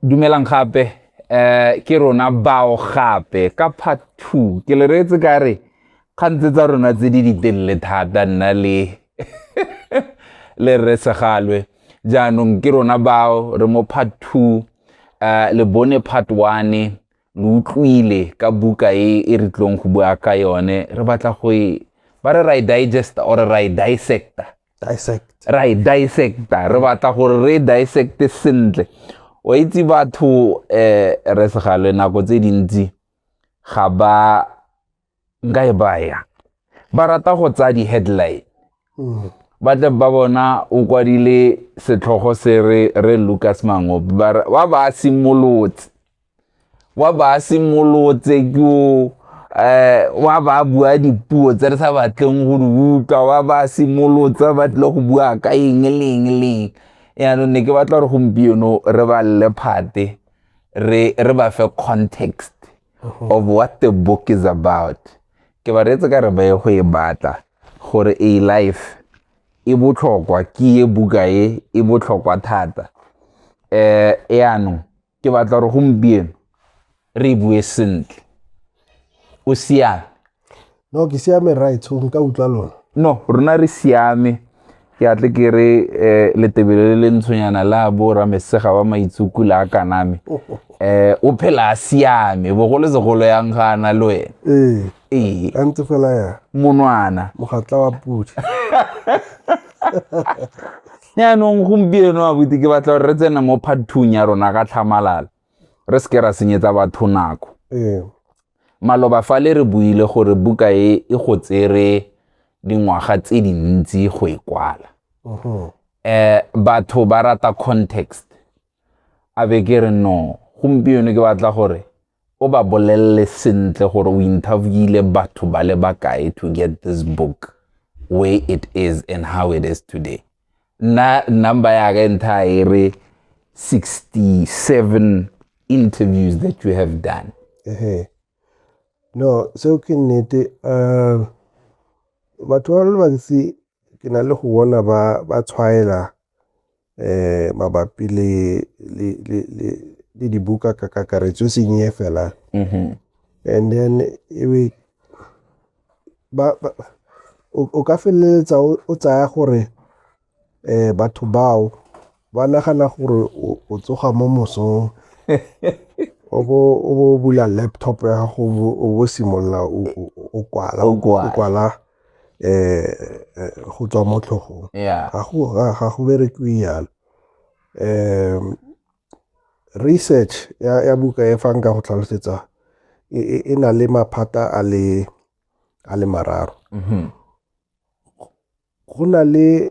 Dumelang gape eh ke rona bao gape ka part 2 ke le reetse ka re kgantse tsa rona tse di ditelele thata nna le le re segalwe jaanong ke rona bao re mo part 2 uh, eh, le bone part 1 lo utlwile ka buka e e re tlong go bua ka yone re batla go e ba re ra e digesta or ra e dissecta dissect ra e dissecta re batla gore re dissecte sentle o itse batho eh re segale nako tse dintsi ga ba nka e baya ba rata go tsaya di-headline mm. ba tle ba bona o kwadile setlhogo se re re lucas mangope ba ba simolotse wa ba a simolotse ke o eh, wa ba a bua dipuo tse re sa batleng go di utlwa wa ba a simolotse ba tlile go bua ka eng leng leng yaanong ne ke batla gore gompieno re ba lle phate re re ba fe context mhm. of what the book is about ke ba reetse ka re ba ye go e batla gore a life e botlhokwa ke e buka e e botlhokwa thata um eh, yaanong ke batla gore gompieno re e bue sentle o siame no ke siame right so nka utlwa lona no rona re siame ke atle ke re um letebele le le ntshonyana la bo ramesega wa maitsuku le a kaname um eh, o phela a siame bogolo segolo yang ga ana le wena ee ee a ntse fela ya monwana mogatla wa podi yaanong gompieno abuti ke batla gore re tsena mo phathung ya rona ka tlhamalala re seke ra senyetsa batho nako ee. maloba fa le re buile gore buka e e go tsere dingwaga tse dintsi go e kwala um batho ba rata context a be ke re no gompieno ke batla gore o ba bolelele sentle gore o interviewile batho ba le bakae to get this book where it is and how it is today nna number ya ka ntha e re 67 interviews that you have done ehe no seo ke nnete um batho ba le bantsi ke na le go bona ba tshwaela eh mabapi le le le le le dibuka ka kakaretso e seng e fela Mhm. and then e be ba, ba o, o ka feleletsa o, o tsaya gore eh batho bao ba nagana gore o, o tsoga mo mosong o bo o bo bula laptop ya gago o bo- o bo simolola o, o, o kwala O kwala. o kwala um go tswa mo tlhogong ga go berekiwe yalo um research ya buka e fang ka go tlhalosetsa e, e, e na le maphata a le a le mararo mm-hmm. go na le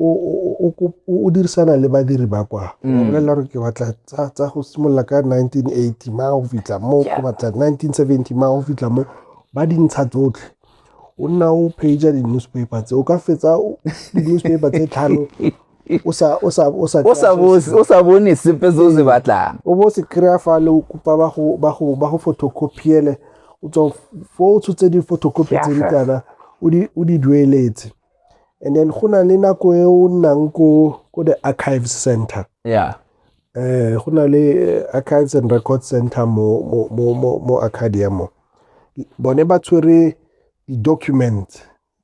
o, o, o, o kop- o- o dirisana le badiri ba kwa o ba bolelela gore ke batla tsa tsa go simolola ka 1980 ma go fitlha mo ke batla 1970 ma go fitlha mo ba dintsha tsotlhe o nna o pager di-newspaper tse o ka fetsa o- di-newspaper tse tlhano o sa o sa o sa o sa bo- o sa bone sepe se o se batlang o bo se kry-a fa le o kopa ba go- ba go ba go photocopiele o tswa fo o tshotse di-photocopy tse di kana o di- o di dueletse and then go na le nako e o nnang ko ko the archives center yeah eh go na le eh, archives and record center mo mo mo mo, mo arcadia mo bone ba tshwere di-document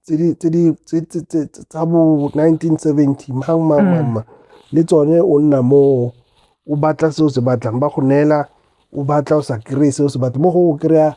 tse di- tse di- tse- tse- tse- tse- tsa bo 1970 mang mang mang mang le tsone o nna mo o batla se o se batlang ba go neela o batla o sa kry-e se o se batlang mo go o kry-a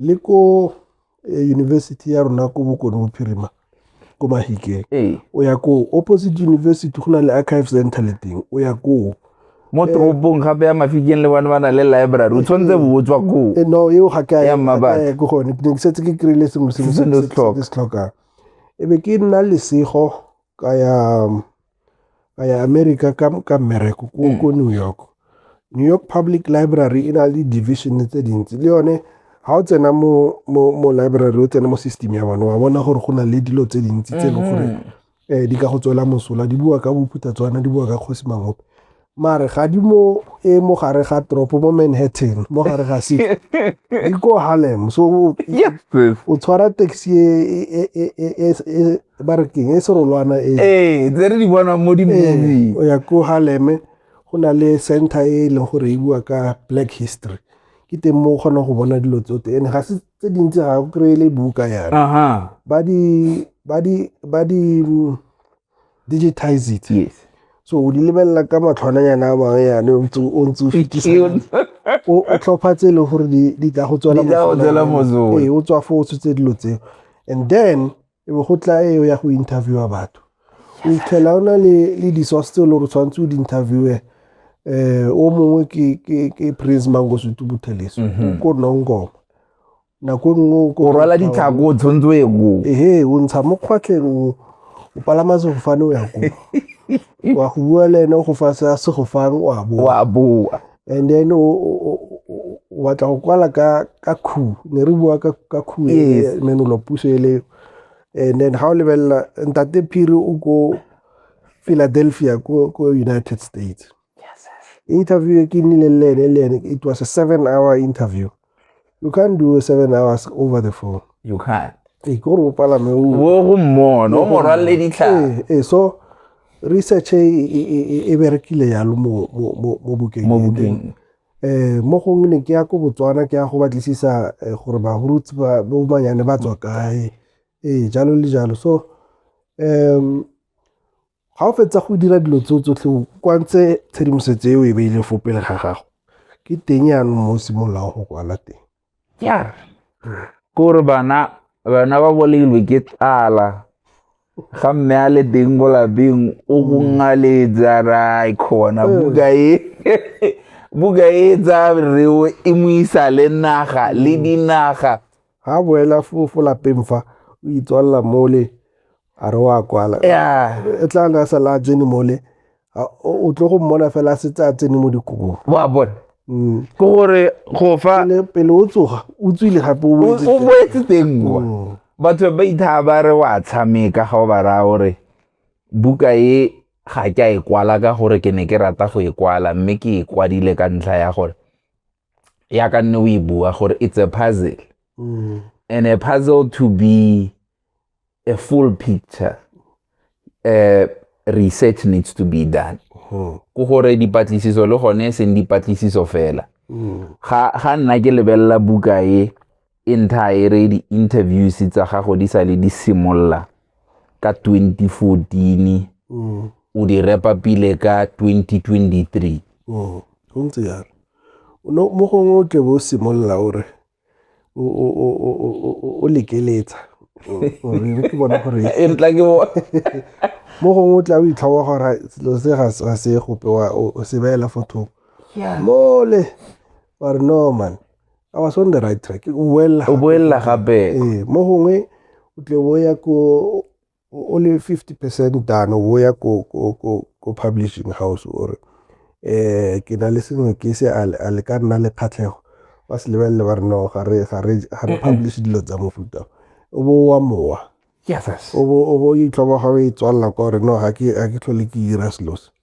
le ko eh, university ya rona ko bokone bophirima ko mahikeng ee o ya koo opposite university go na le archive center le teng o ya koo mo toropong gape ya mafikeng le bone ba na le library o tshwanetse bo o tswa koo Eh, no eo ga ke a- Ya mmabatho. ga ke a ya ko gone ke ne ke setse ke kry-ile sengwe sengwe Se se ne se se- se- tlhoka. se se tlhokang e be ke nna lesego ka ya um, ka ya America ka, ka mmereko ko, mm. ko New York. New York Public Library e na le division tse dintsi le yone ga o tsena mo, mo, mo library o tsena mo system ya bone wa bona gore go na le dilo tse dintsi tse e leng gore um di ka go tswela mosola di bua ka bophuthatswana di bua ka kgosi mangope mare ga di mo e mo gare ga tropo mo manhattan mo gare ga se di ko harlem so yes sis o tshwara taxi e e- e- e- e- e- ba re keng e serolwana e ee tse re di bona mo di Eh, movie o ya ko harlem go na le center e e leng gore e bua ka black history ke teng mo o kgonang go bona dilo tsote and ga se tse dintsi ga o kry-e le buka yana aha ba di ba di ba di mm, digitize it yes so o di lebelela ka matlhwananyana a mangwe yane o ntse o ntse o fetisa o tlhopha tse e leng gore di tla go tswela mosola ee o tswa fo o tshotse dilo tseo and then e be go tla eo ya go interviewa batho o itlhela o na le le di-source tse e le gore tshwanetse o di-interviewe um o mongwe ke prince mangosutu butheleso mhm. ko nongoma nako e nngwe o o rwala ditlhako o tshwanetse o ye koo ehe o ntsha mo kgwatlheng o o palama sefofane o ya koo wa go bua le ene o go fa se a segofang o a boa wa boa and then o- o o- o- o batla go kwala ka ka khu ne re bua ka ka khu Yes. ne no puso e le and then ha o lebelela ntate phiri o ko Philadelphia ko ko United States interview e ke nnile le ene le ene it was a seven hour interview you can't do a seven hours over the phone you can't ee ke gore o palame o bo go mmona o mo rwalle ditlhare ee so research e, e, e, e berekile yalo mo mo- mo- mo bukeng mo e. bukeng eh mo gongwe ne ke ya ko botswana ke ya go batlisisa eh, gore barutsi ba bomanyane ba tswa kae ee jalo le jalo so um Ga o fetsa go dira dilo tseo tsotlhe o kwantse tshedimosetso e o e beile fo pele ga gago, ke teng yanong mo o simololang go kwala teng. ya kore bana bana ba bolailwe ke tlala ga mme a le teng ko lapeng o go ngaletsa ra khona buka e buka e tsaya reo e mo isa le naga le dinaga Ga a boela fo lapeng fa o itswalela mole a re wa kwala e tla na sa la tsene mole o tlo go mmona fela a setse a tsene mo dikobong wa bona mm. ke gore go fa pele o tsoga o tswile gape o boetse teng kwa mm. batho ba ithaa ba re wa tshameka ga o ba raya gore buka e ga ke a e kwala ka gore ke ne ke rata go e kwala mme ke e kwadile ka ntlha ya gore ya ka nne o e bua gore it's a puzzle mm. and a puzzle to be a full picture uh, research needs to be done hmm. ko gore dipatlisiso le gone e seng dipatlisiso fela hmm. ga nna ke lebelela buka e Inter e re di-interviews tsa gago di sa le di simolola ka 2014 mm. o di repa pele ka 2023 mm. go ntse yalo mo gongwe o tle bo o simolola o re o lekeletsa ke bona gore e ntla ke bona mo gongwe o tla o itlhawa gore selo se ga se gope o se beela fo thoko mole wa re no man I was on the right track o boelela o boelela gape ee mo gongwe o tle o ya ko o le 50 percent dano o ya ko ko ko ko publishing house o re eh ke na le sengwe ke se a le ka nna le kgatlhego ba se lebelele ba re no ga re ga re ga re publish dilo tsa mofuta o bo wa mowa yes o bo o bo itlhoba ga o e tswalela kwa re no ga ke ga ke tlhole ke dira selo se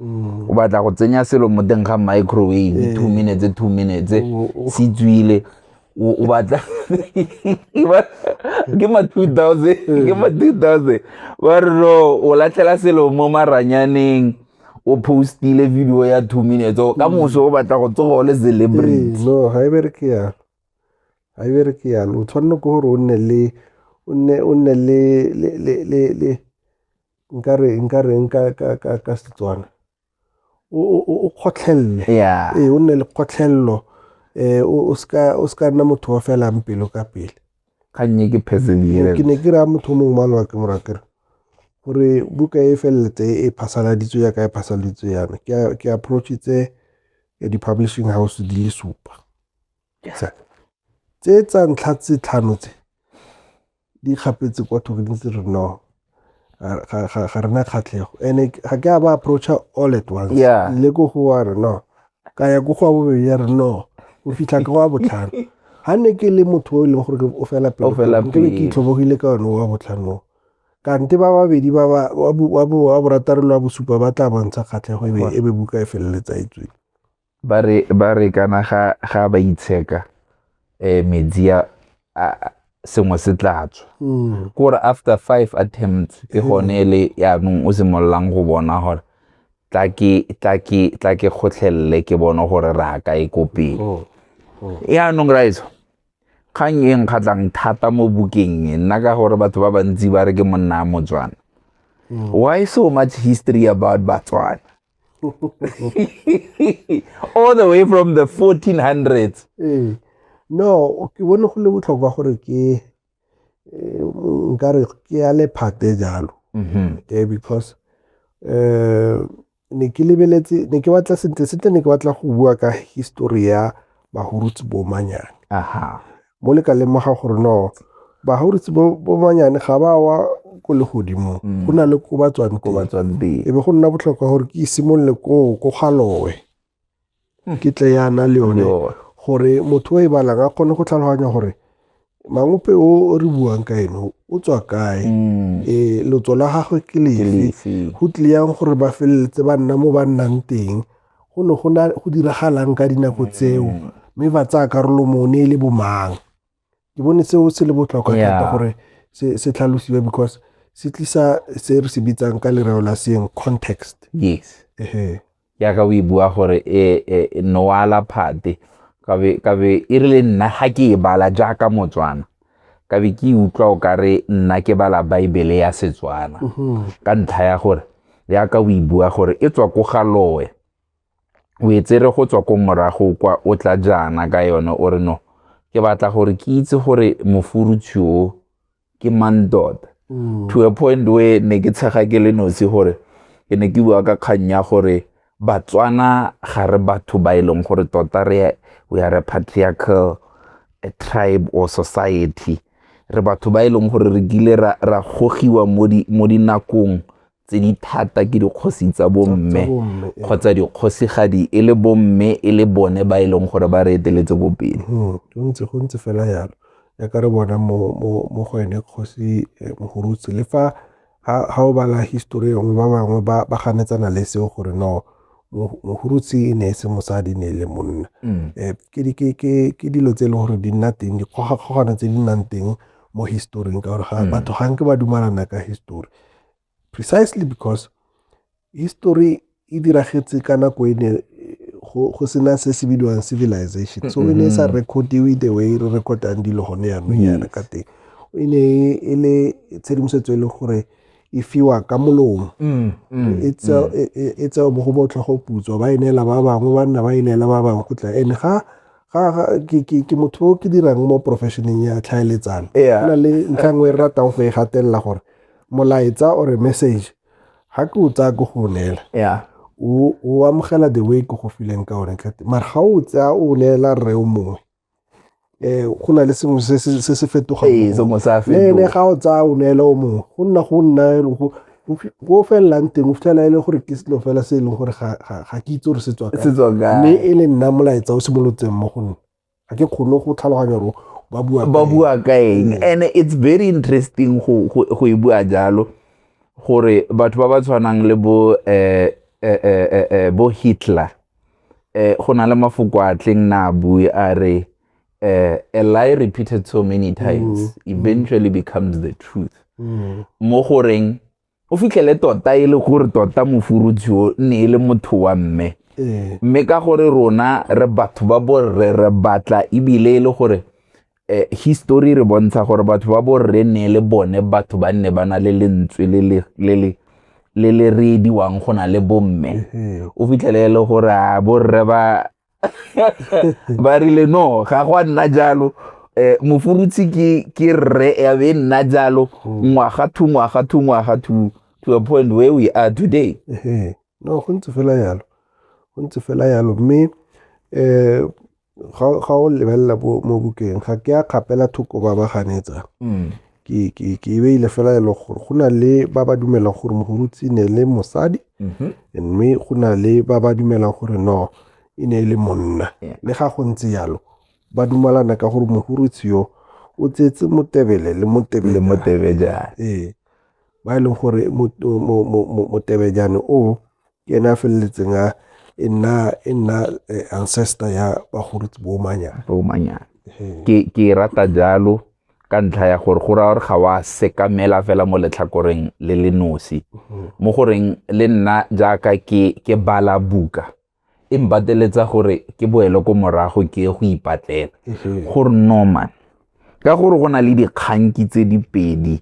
Mm. o batla go tsenya selo mo teng ga microwave eh. two minutes two minutes oh, oh. se tswile o batla ke ma two thousand eh. ke ma two thousand ba re no o latlhela selo mo maranyaneng o postile video ya two minutes oh, ka mm. moso o batla go tsoga o le celebrity eh, no ga e bereke yalo ga e bereke yalo o tshwanne ke gore o nne le o nne le nka re nka reng ka ka ka ka Setswana o o- o o kgotlhelele Yeah. ee o nne le kgotlhelelo eh o o ska o ska nna motho wa felang pelo ka pele kgannye ke perseverance ke ne ke raya motho o mongwe malwa ke mora kere gore buka e feleletse e phasaladitswe yaka e phasaladitswe yana ke a- ke approachitse eh, di-publishing house di le supa Sa- tse tsa ntlha tse tlhano tse di kgapetse kwa thoko di ntse re no ga re na kgatlhego and-e ga ke a ba approacha all at once Yeah. le ko go wa re no ka ya ko go wa bobedi ya re no o fitlha ka wa botlhano ga ne ke le motho o e leng gore ke- o fela O fela pelo ke be ke pelo. itlhobogile ka one wa botlhanong kante ba babedi ba ba- wa bo- wa bo- wa borataro le wa bosupa ba tla bontsha kgatlhego e be- e be buka e feleletsa e tswile Ba re kana ga ba itsheka um metsi a sengwe se tla tswa mm. kore after five attempts ke gone mm. le yaanong o simololang go bona gore tla ke kgotlhelele ke bone gore re aka e ko pele oh, oh. yaanong raiso kgang e nkgatlhang thata mo bukeng e nna ka gore batho ba bantsi ba re ke monna a motswana mm. why so much history about batswana all the way from the 1400s ee no ke bone go le botlhokwa gore ke eh, nkare ke ya lephate jalo mm-hmm. okay because eh ne ke lebeletse ne ke batla sentle sentle ne ke batla go bua ka history ya bahurutsi bomanyane aha mo le ka lemoga gore no bahauritse bo bo banyane ga ba wa ko le godimo Mm. go na le ko ba tswang ko ba teng tswang teng e be go nna botlhokwa gore ke simolole koo ko galowe Hmm. ke tle yana le yone Yo. gore motho o e balang a kgone go tlhaloganya gore mangope o o re buang ka ene o- o tswa kae Mm. e lotso la gagwe ke Ke lefe lefe? go tlile yang gore ba feleletse ba nna mo ba nnang teng go ne go na go diragalang ka dinako tseo mm. mme ba tsaya karolo mo ne e le bomang ke bone seo se le botlhokwa thata gore se tlhalosiwe because se tlisa se re se bitsang ka lereo la seeng context yes ehe yaka o e bua gore e, e, e noala phate kabe e rile nna ga ke e bala jaaka motswana ka be ke utlwa o ka re nna ke bala baebele ya setswana mhm. ka ntlha ya gore yaka o e bua gore e tswa ko ga loe o e tsere go tswa ko morago kwa o tla jaana ka yone o re no ke batla gore ke itse gore mofurutshi o ke mang tota mm. to a point where ne ke tshega ke le nosi gore ke ne ke bua ka kgang ya gore Batswana ga re batho ba e leng gore tota re we are a patriarchal a tribe or society. Re batho ba e leng gore re kile ra, ra gogiwa mo, di, mo dinakong tse di thata ke dikgosi tsa bomme kgotsa dikgosigadi e le bomme e le bone ba e leng gore ba re eteletse ko pele hmm, go ntse go ntse fela yalo ya ka re bona mo go ene kgosi eh, mogurutse le fa Ga o bala histori e nngwe, ba bangwe ba ganetsana le seo gore no mohurutsi e ne e se mosadi ne e le monna mm. eh, ke dilo tse e leng gore di nna teng dikgogakgogano tse di nnang teng mo historing ka gore mm. batho ga nke ba dumalana ka histori precisely because History e diragetse ka nako e ne go sena se se bidiwang civilization so e ne e sa recordiwe the way re recordang dilo gone yanong yana ka teng e ne e le tshedimosetso e le gore e fiwa ka molomo mm, mm, e tseo mm. e mo go botlhogo putswa ba e neela ba bangwe ba nna ba e neela ba bangwe go tla ene ga ke motho o ke dirang mo professioneng ya tlhaeletsano go na le ntlha nngwe e ratang go e gatelela gore molaetsa or message ga ke o tsaya ko go o neela yeah o o amogela the way ko go fileng ka one kate mara ga o tsaya o neela rre o mongwe eh go na le sengwe se se se se fetogang Ee, mo go sengwe se a one. Le ene fetoga. ga o tsaya o neela o mongwe go nna go nna e leng go- go fi- go felelang teng o fitlhela e le gore ke selo fela se e leng gore ga ga- ga ke itse gore se tswa kae. Se tswa kae? mme e le nna molaetsa o simolotseng mo go nna ga ke kgone go tlhaloganya gore ba bua ba bua ka eng Mm. and it's very interesting go go go e bua jalo gore batho ba ba tshwanang le bo eh eh eh eh, eh, bo Hitler eh go na le mafoko a tleng na a bue a re eh a lie repeated so many times eventually becomes the truth Mm. mo goreng o fitlhele tota e le gore tota mofurutshe o ne e le motho wa mme ee. mme ka gore rona re batho ba borre re batla ebile e le gore eh, history re bontsha gore batho ba borre ne le bone batho ba nne ba na le lentswe le le reediwang go na le bomme o fitlhele e le gore a borre ba ba rile no ga go a nna jalo eh mofurutsi ke ke rre ya be nna jalo hmm. ngwaga thu ngwaga thu ngwaga thu to a point where we are today eh no go ntse fela yalo go ntse fela yalo mme eh ga o lebelela mo bukeng ga ke a kgapela thoko ba ba ganetsa hmm. ke, ke, ke e beile fela e le gore go na le ba ba dumelang gore mogorutsi ne le mosadi mhm. mme go na le ba ba dumelang gore no e ne e le monna le ga go ntse jalo ba dumalana ka gore mogorutsi yo o tsetse motebele le motebejane ee ba e leng gore motebejane o ke ene a feleletseng a e nna e nna eh, ancestor ya bagolo boomanyana boomanyana ke ke e rata jalo ka ntlha ya gore go raya gore ga wa sekamela fela mo letlhakoreng le le nosi mhm. mo goreng le nna jaaka ke ke bala buka e mpateletsa gore ke boele ko morago ke go ipatlela mhm. gore norman ka gore go na le dikganki tse di pedi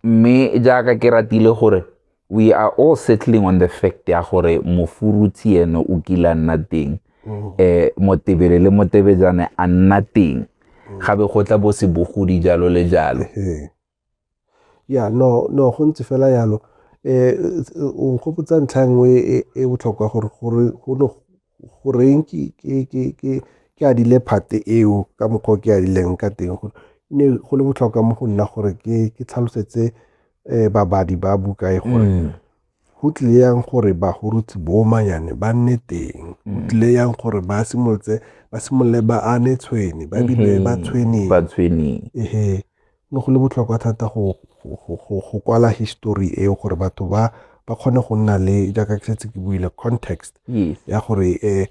mme jaaka ke ratile gore we are all settling on the fact ya gore mofuruthi ene o kile a nna teng um motebele le motebejane a nna teng mm. ga be go tla bo se bogodi jalo le jalo ya no no go ntse fela yalo um o nkgopotsa ntlha nngwe e, e botlhokwa gore gore go ne goreng ke adile part-e eo ka mokgwa o ke adileng ka teng go ne go le botlhokwa mo go nna gore ke tlhalosetse um babadi ba buka e gore mm. go tlile yang gore bagorotsi boomanyane ba nne teng go mm. tlile yang gore ba simolotse ba simolole ba ane tshwene ba bile mm-hmm. ba tshweneng ba tshweneng ehe ne go le botlhokwa thata go kwala history eo gore batho ba ba kgone go nna le jaaka ke setse ke buile context ya gore um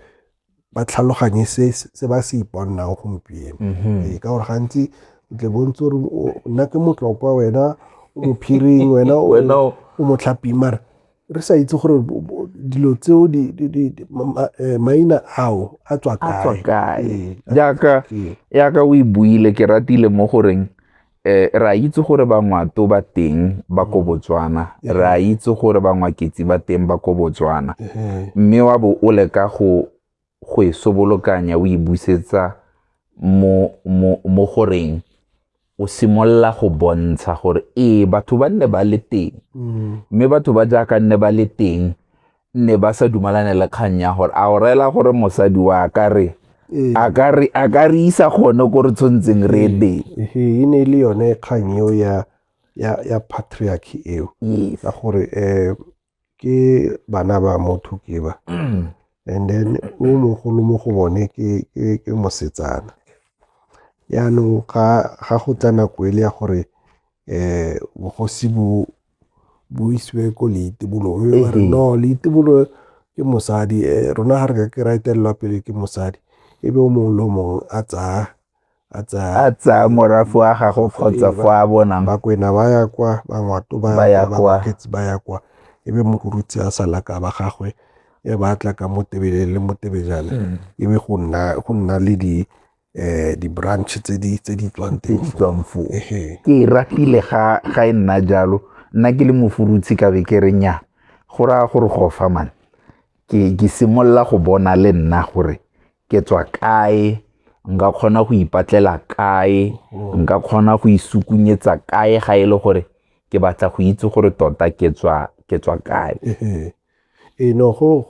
ba tlhaloganye se se ba se iponang gompieno mm-hmm. ee, ka gore gantsi o tle bontse gore nna ke motlokwa wena o mophiring wena o motlhaping mara re sa itse gore dilo tseo maina ao a tswa kae ee. jaaka ee. yaka o e buile ke ratile mo goreng eh ra itse gore bangwato ba teng ba ko mm. Botswana ee. ra itse gore bangwaketsi ba teng ba ko Botswana mme wa bo o leka go go e sobolokanya o e busetsa mo, mo, mo goreng o simolola go bontsha gore ee batho ba nne ba le teng mm. mme batho ba jaaka nne ba le teng nne ba sa dumalane le kgang ya gore a o reela gore mosadi wa ka re ee. a ka re isa gone ko re tshwantseng re ee. teng ee, e ne e le yone kgang eo ya ya ya patriarchy eo ka gore um ke bana ba motho ke ba and then o mogolo mo go bone ke mosetsana yaanong ga go tla nako e le ya gore um bogosi bo bo isiwe ko leitibolong mme ba re no leitibolo ke mosadi eh, rona ga re ka ke ra etelelwa pele ke mosadi e be o mongwe le o mongwe a tsaya a tsaya morafe wa gagwe kgotsa fo a bonang bakwena ba ya kwa bangwato ba ya kwa bakgetse ba ya kwa e be mokorutsi a sala ka ba gagwe e ba tla ka motebele le motebejana mm. e be go nna go nna le di eh di branch tse di tse di tswang teng di tswang fo ke e ratile ga ga e nna jalo nna ke le mofurutsi ka be ke re nya go raya gore go fa man ke ke simolola go bona le nna gore ke tswa kae nka kgona go ipatlela kae nka kgona go isukunyetsa kae ga e le gore ke batla go itse gore tota ke tswa ke tswa kae ee no go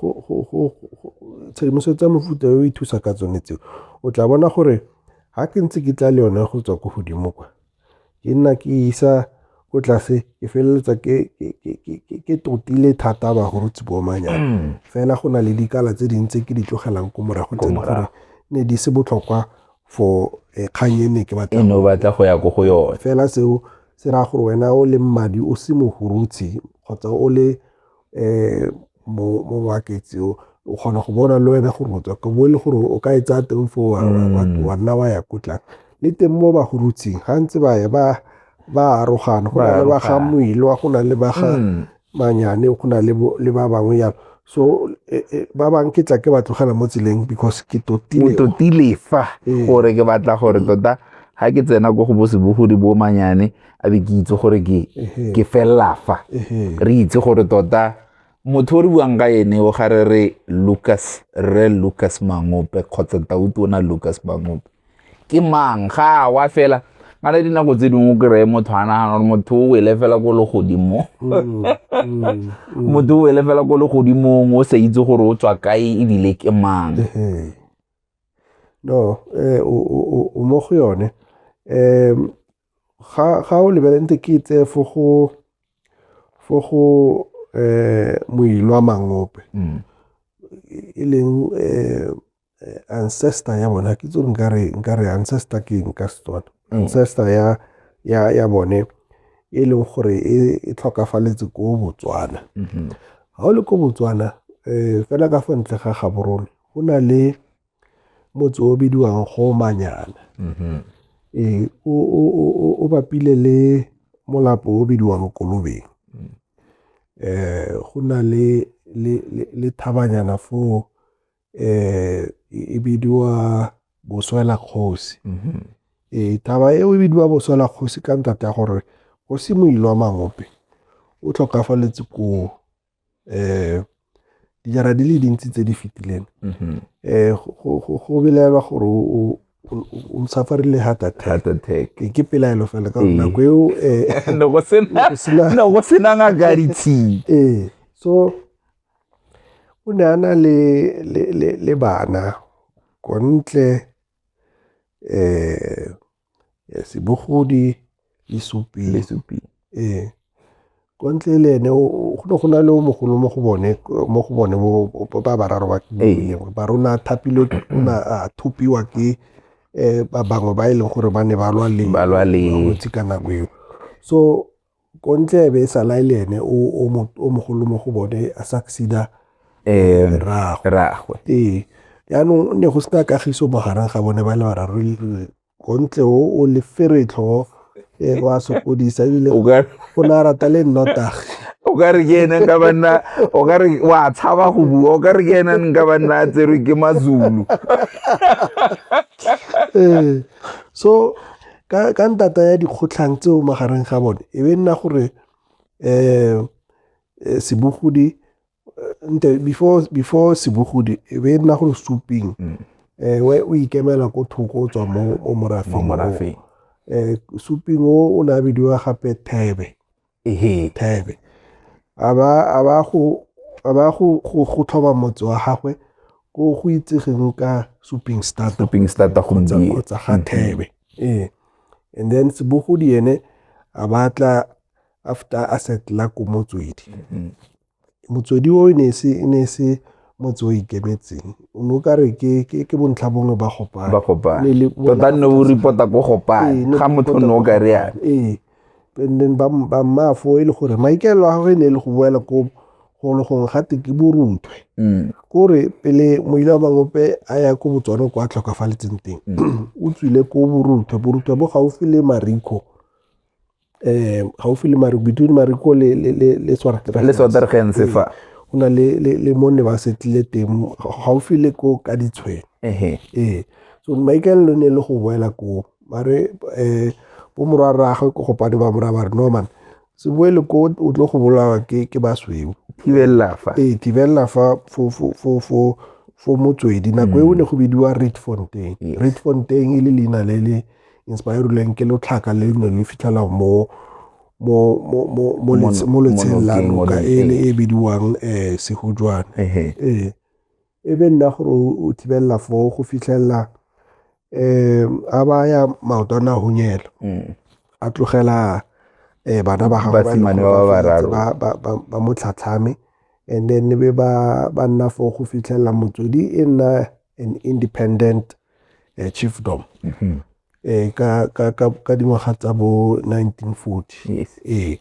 tshedimosetso ya mofuta yo e thusa ka tsone tseo o tla bona gore ga ke ntse ke tla le yone go tswa ko godimo kwa ke nna ke isa ko tlase ke feleletsa ke totile thata bagorotsi boomanyana mm. fela go na le dikala tse dingwe tse ke di tlogelang ko morago tse gore ne di se botlhokwa for eh, kgang e ne ke batla batla go ya ko go yone fela seo se raya gore wena o le mmadi o se mogorotsi kgotsa o le um mo markets o o kgona go bona le wena gore motswa ka bo e le gore o ka e tsaya teng foo wa mm. nna wa ya ko tlang le teng mo bagorutsing ga ntse ba ya ba ba arogana go na le ba ga moilwa go na le ba ga mm. manyane go na le ba bangwe yalo so e, e, ba bang ke tla ke ba tlogela mo tseleng because ke totile fa ee. gore ke batla gore tota ga ke tsena ko go bosebogodi bo manyane a be ke itse gore ke ke felela fa re itse gore tota motho o re buang ka ene o ga re re lucas re lucas mangope kgotsa tautu o na lucas mangope ke mang ga wa fela ga na dinako tse dingwe o kry-e motho a nagana gore motho o wele fela ko le godimo mm, mm, motho o wele fela ko le godimong o sa itse gore o tswa kae ebile ke mang no eh, o mo go yone um ga o lebelente ke e tseye fo go fo go um moilwa mangope mm. e leng um ancestor ya bona ke tso nkare nkare ancestor ke eng ka setswana mm. ancestor ya ya ya bone e leng gore e, e tlhokafaletse ko botswana ga mm-hmm. o le ko botswana um fela ka fo ntle ga gaborone go na le motse o bidiwang Gomanyana. Mm-hmm. Ee, o bapile le molapo o bidiwang Kolobeng. Mm. Eh, go na le, le, le, le thabanyana foo eh, e bidiwa Boswela Kgosi. Mm-hmm. Ee, taba eo e bidiwa Boswela Kgosi ka ntate ya gore go se moilwa mangope o tlhokafaletse koo um dijara di le dintsi tse di fetileng um go belaelwa gore o safarile heart attack ke pelaelo fela ka nako eo go sena ngaka ditshii ee so o ne a na le bana kontle um Yes, bogodi le supi. Le supi. Ee. Kwa ntle le ene go ne go na le o mogolo mo go bone mo go bone ba bararo ba engwe ba rona thapilwe a thupiwa ke um ba bangwe ba e leng gore ba ne ba lwa le balwetse ka nako eo so Kontle e be e sala e le ene o o mo- o mogolo mo go bone a succeeda Ee, rraagwe rraagwe. ee jaanong ne go sena kagiso magareng ga bone ba le bararo le- kontle o o lefere tlhogo ee, o a sokodisa ebile O ka- o ne a rata le nnotagi o ka re ke ene nka banna o ka re wa tshaba go bua o ka re ke ene nka banna a tserwe ke mazulu ee so ka ntata ya dikgotlhang tseo magareng ga bone e be nna gore um sebogodi nte before before sebogodi e be nna gore suping um o ikemela ko thoko o tswa mo morafeng um suping o o ne a bidiwa gape thebe ehe thaebe a ba go tlhoba motse wa gagwe ko go itsegeng ka suping startuping starta kgotsa ga mm-hmm. thebe ee and then sebogodi ene a batla after a setla ko motswedi mm-hmm. Motswedi o e ne e se motse o ikemetseng o ne o kare ke bontlha bongwe ba Gopane. Ba Gopane. Tota nne o report-a ko Gopane ga motho nne o ka re yana. Ee, and then ba mmaafo e le gore maikaelelo a gagwe e ne e le go boela ko golo gongwe ga te ke boruthwe. Mm. Kore pele moila wa mangope a ya ko botswana kwa tlhokafaletseng teng mm. o tswile ko boruthwe boruthwe bo gaufi le marikho um gaufi le mariko between mariko le- le- le- le Swartregens. le sotergense fa go na le- le le mo ne ba setlile teng gaufi le ko ka ditshwene ehe ee so maikaelelo ne e le go boela koo mare um bo morwa rraagwe ko gopane ba moraya ba re norman se boele ko o tlo go bolawa ke ke basweu thibelela fa ee thibelela fa fo- fo- fo- fo- fo motswedi nako eo ne go bidiwa reedfontein Yes. reedfontein e le leina le le Inspirerilweng ke lotlhaka le ne le fitlhelwa mo mo mo mo mo lets- mo letsheng la monokeng, noka monokeng. ele e bidiwang um sehujwane Ehe. ee e be nna gore o o thibelela foo go fitlhelela um a baya maoto a ne a hunyela Mm. a tlogela um bana ba gagwe ba e leng Basimane gore ba ba feleletse bararo. ba- ba- ba- ba mo tlhatlhame and then e be ba ba nna foo go fitlhelela motswedi e nna an independent uh, chiefdom mm -hmm. eh ka ka ka ka dingwaga tsa bo 1940 yes. eh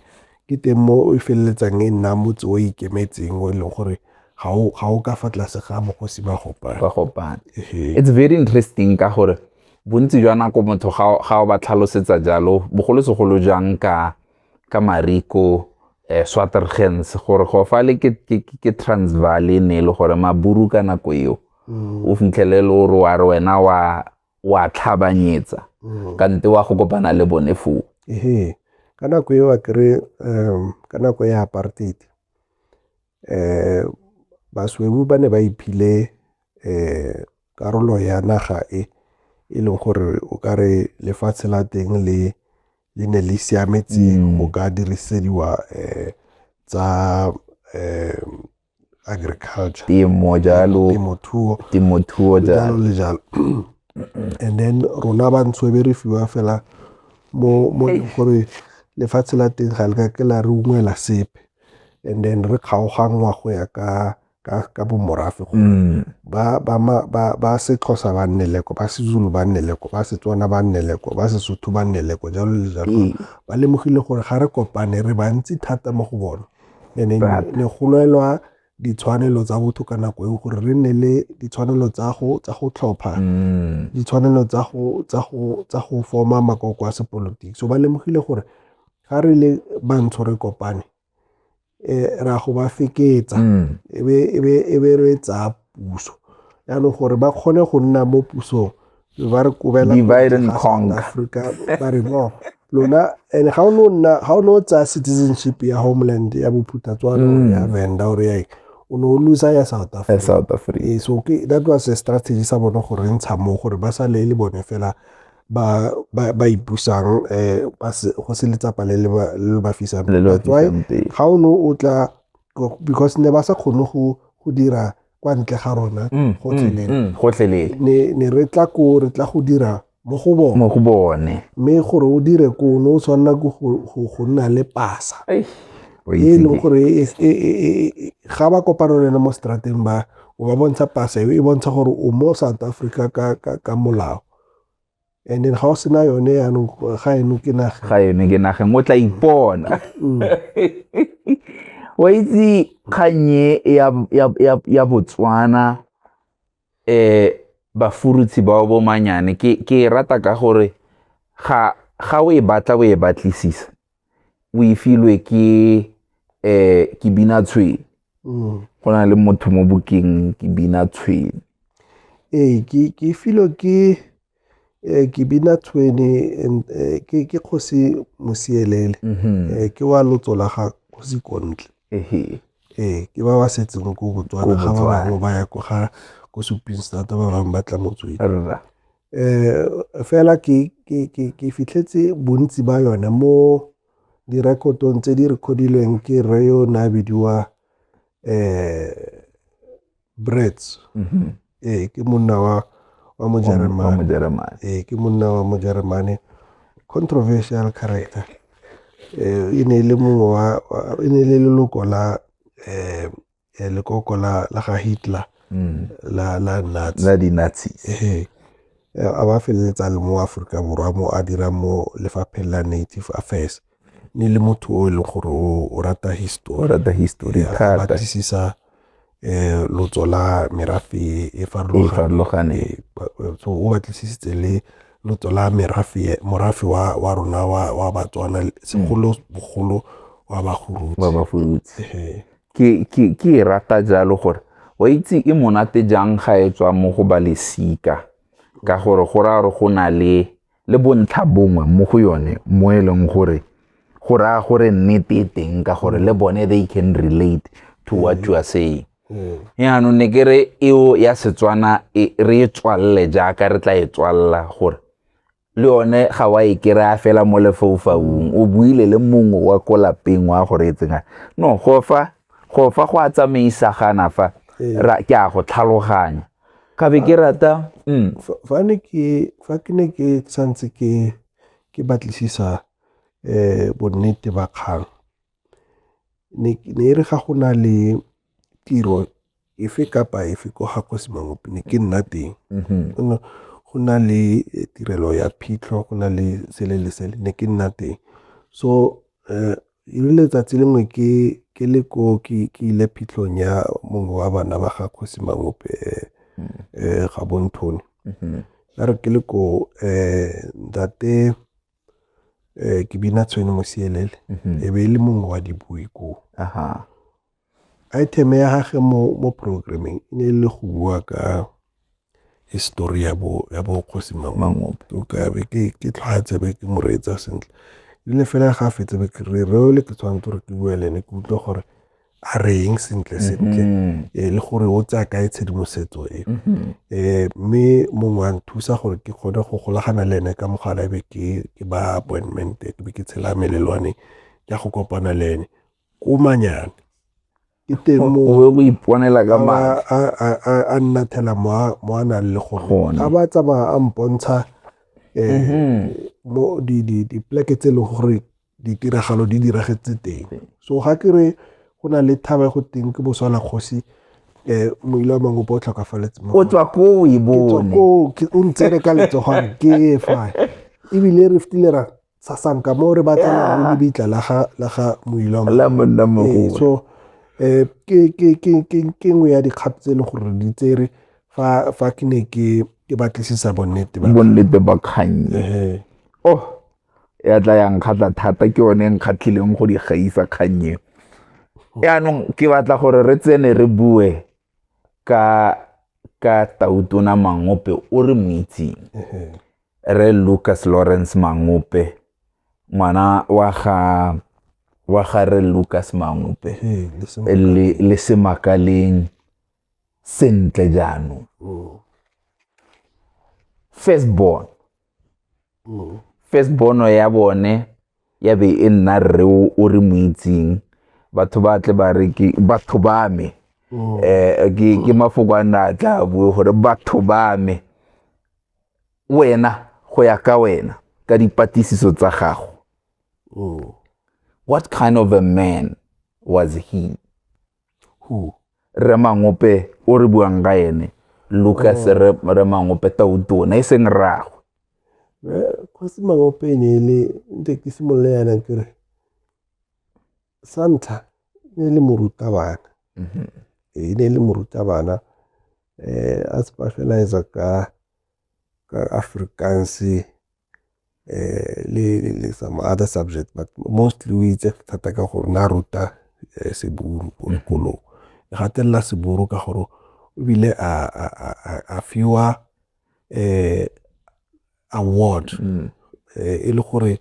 ke teng mo e feleletsang e nna motse o ikemetseng o e leng gore ga o ga o ka fa tlase ga mogosi ba gopane ba gopane it's very interesting ka gore bontsi jwa nako motho ga o ba tlhalosetsa jalo bogolosegolo jang ka ka mari ko eh, swatergens gore go fa le ke, ke, ke transval e ne e le gore maburu ka nako eo mm. o fitlhele le gore wa re wena wa wa tlhabanyetsa mm. ka nte wa go kopana le bone foo ehe ka nako eo a kry um, ka nako ya apartheid eh baswebu ba ne ba iphile eh karolo ya naga e e leng gore o ka re lefatshe la teng le le ne le siametse mm. go ka dirisediwa um tsa um agriculture temo jalo temothuo temothuo jalo le jalo and then rona bantsho e be re fiwa fela mo mo e leng gore lefatshe la teng ga le ka ke la re ungwela sepe and then re kgaoganngwa go ya ka ka, ka bomorafe gore mm. ba, ba, ba, ba Sexhosa ba nne leko ba Sezulu ba nne leko ba Setswana ba nne leko ba Sesotho ba nne leko jalo le jalo mm. ba lemogile gore ga re kopane re bantsi thata mo go bone ene ne go lwelwa ditshwanelo tsa botho ka nako eo gore re nne le ditshwanelo tsa go tsa go tlhopha mm. ditshwanelo tsa go tsa go tsa go forma makoko a sepolotiki so ba lemogile gore ga re le bantsho re kopane um ra go ba feketsa mm. e be re tsaya puso yaanong gore ba kgone go nna mo pusong ba re kobela africa ba re no lona and ga o ne o tsaya citizenship ya homeland ya bophutha tswana mm. ya venda ore ya o ne o losa ya south africa south africa ee, so that was a strategy sa bone gore ntsha mo gore ba sa le le bone fela ba ba ba ipusang eh ba se go se letsapa le le ba le le ba fisang Le le ba That's why fisang pele. ga o ne o tla because ne ba sa kgone go go dira kwa ntle ga rona Mm, gotlhelele mm, mm, gotlhelele ne ne re tla ko re tla go dira mo go bone mo go bone mme gore o dire ko o ne o tshwanela ke go go- go nna le pasa Eish, o e e itse leng ke- gore e- e- e- e- e- ga ba kopana le ena mo strateng ba o ba bontsha pasa eo e bontsha gore o mo south africa ka, ka, ka molao and then ga o sena yone yaanong ga eno ke naga ga eno ke nageng o tla ipona mm. wa itse kgannye ya botswana um bafurutshi bao bomanyane ke e rata ka gore ga o e batla o e batlisisa o e filwe ke um ke bina tshwene mm. go na le motho mo bokeng ke bina tshwene ee ke ke filwe ke eh, ke bina tshwene eh, ke ke kgosi mosielele mhm. eh, ke wa lotso la ga kgosi kontle ee ke ba ba setseng ko botswana ga ba bangwe ba ya ko ga ko suping strata ba bangwe ba tla motswedi um fela ke fitlhetse bontsi ba yone mo direkotong tse di recordilweng ke rre yo o ne a bidiwa um brets mm-hmm. ee ke monna wa wa mojeremane ee ke monna wa mojeremane controversial character um e ne e le mongwe wa e ne e le leloko la um eh, lekoko la la ga Hitler mm. la la Nazi la di Nazi eh a ba feleletsa le mo Aforika Borwa mo a dira mo lefapheng la Native Affairs ne le motho o e leng gore o rata history o rata history thata batlisisa eh lotso la merafe e farologaneng eh, so o batlisisitse le lotso la merafe morafe wa wa rona wa wa Batswana segolo bogolo wa bagurutse wa bagurutse Ke e rata jalo gore wa itse e monate jang ga e tswa mo go ba lesika ka gore go raya gore go na le le bontlha bongwe mo go yone mo e leng gore go raya gore nnete e teng ka gore le bone they can relate to what you are saying mm. yaanong ne ke re eo ya setswana e, re e tswalele jaaka re tla e tswalela gore le one ga wa e kry-a fela mo lefaufaung o buile le mongwe wa ko lapeng wa go reetseng no go fa go fa go a tsamaisagana fa ee. ke a go tlhaloganya ka be ke rata mm. fa ke ne ke santse ke ke batlisisa um bonnete ba kgang ne e re ga go na le tiro efe kapa efe ko ga kgosi mangope ne ke nna teng mm-hmm. go na le eh, tirelo ya phitlho go na le sele le sele ne ke nna teng so um le letsatsi lengwe ke ke le ko ke ke ile phitlhong ya mongwe wa bana ba ga kgosi mangope eh, mm-hmm. eh ga bonthone mm-hmm. ya re ke le ko um ntate Eh, ke bina tshwene mosielele mhm. e be e le mongwe wa dibui koo item ya gage mo, mo programming e ne e le go bua ka histori ya bo ya bo kgosi mangope o ka be ke ke tlhwaetse be ke mo reetsa sentle ile fela ga fetse be ke re re ole ke tshwanetse gore ke bue le ene ke utlwe gore a reng sentle sentle mm-hmm. eh, le gore o tsaya kae tshedimosetso e mm-hmm. eh, mme mongwe a nthusa gore ke kgone go golagana le ene ka mogala ebe ke ba appointment ke be ke tshela melelwane ke go kopana le ene ko manyane ke teng mo go iponela ka ma a nna thela mo mo a nang le gone a ba tsamaya a mpontsha eh mm-hmm. mo di di di pleke tse le gore ditiragalo di diragetse teng so ga ke re go na le thaba e go teng ke boswa la kgosi um moile wa mangopo o tlhokafaletse o tswa koo e bone o ntsere ka letsogwane ke fa ebile re fetile ra sasanka mo re batlang le lebitla la ga moile wa mangopo so um ke nngwe ya dikgato tse e leng gore di tsere fa ke ne ke batlisisa bonnete bonnete ba kgang oh ya tla ya nkgatlha thata ke yone e nkgatlhileng go di gaisa kgang eo yaanong ke batla gore re tsene re bue ka ka tautona mangope o re mo itseng re lucas lawrence mangope ngwana wa ga wa ga re lucas mangope le le semakaleng sentle jaanong first born first bono ya bone ya be e nna rre o re mo itseng batho ba tle ba re ke batho ba me um ke mafoko a nna a tla bue gore batho ba me wena go ya ka wena ka dipatlisiso tsa gago what kind of a man was he Who? Rre Mangope o re buang ka ene. Lucas oh. Rre, Rre Mangope tautona e seng rragwe. Kgosi Mangope e ne e le nte ke simolole yana ke re sa ntlha ne e le morutabana. Mm -hmm. E ne e le morutabana eh a tseba fela etsa ka ka Afrikaans le some other subject but mostly o itse thata ka gore ne a ruta Seburu ko sekolong. E gatelela Seburu ka gore ebile a fiwa award mm. e le gore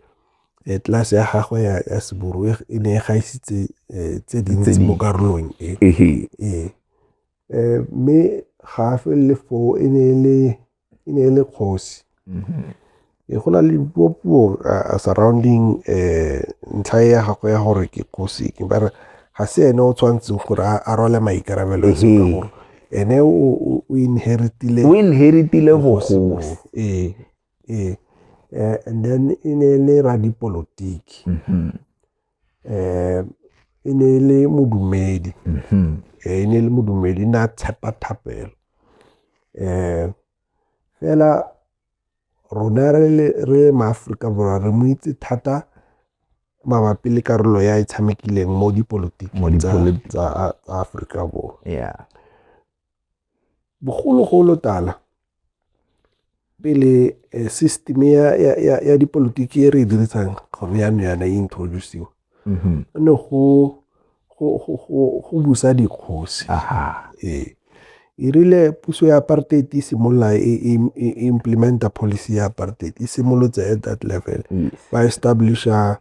Eh, tlase ya gagwe ya, ya seburu e ne e gaisitse eh, tse dintsi mo karolong e ee um mme ga a felele foo e ne e le kgosi mm-hmm. e go na le dipuopuo uh, surrounding um ntlha e ya gagwe ya gore ke kgosi ke ba re ga se ene o tshwanetseng gore a rwale maikarabelo e seng ka mm-hmm. gore ene o inheritile o inheritile bogosi ee ee eh, and then e ne e le radipolotiki mm-hmm. um e ne e le modumedi mm-hmm. eh, e ne e le modumedi ne a tshepa thapelo um fela rona re maaforika borwa re mo itse thata mabapi le karolo ya e tshamekileng mo dipolotiking tsa aforika borwa Bogologolo tala pele system ya dipolotiki e re e dirisang gone yanong yana e introduce-wa mm-hmm. ne go busa dikgosi ee irile e puso ya apartheid e simolola e, e, e implementa policy ya apartheid e simolotse at that level ba establisha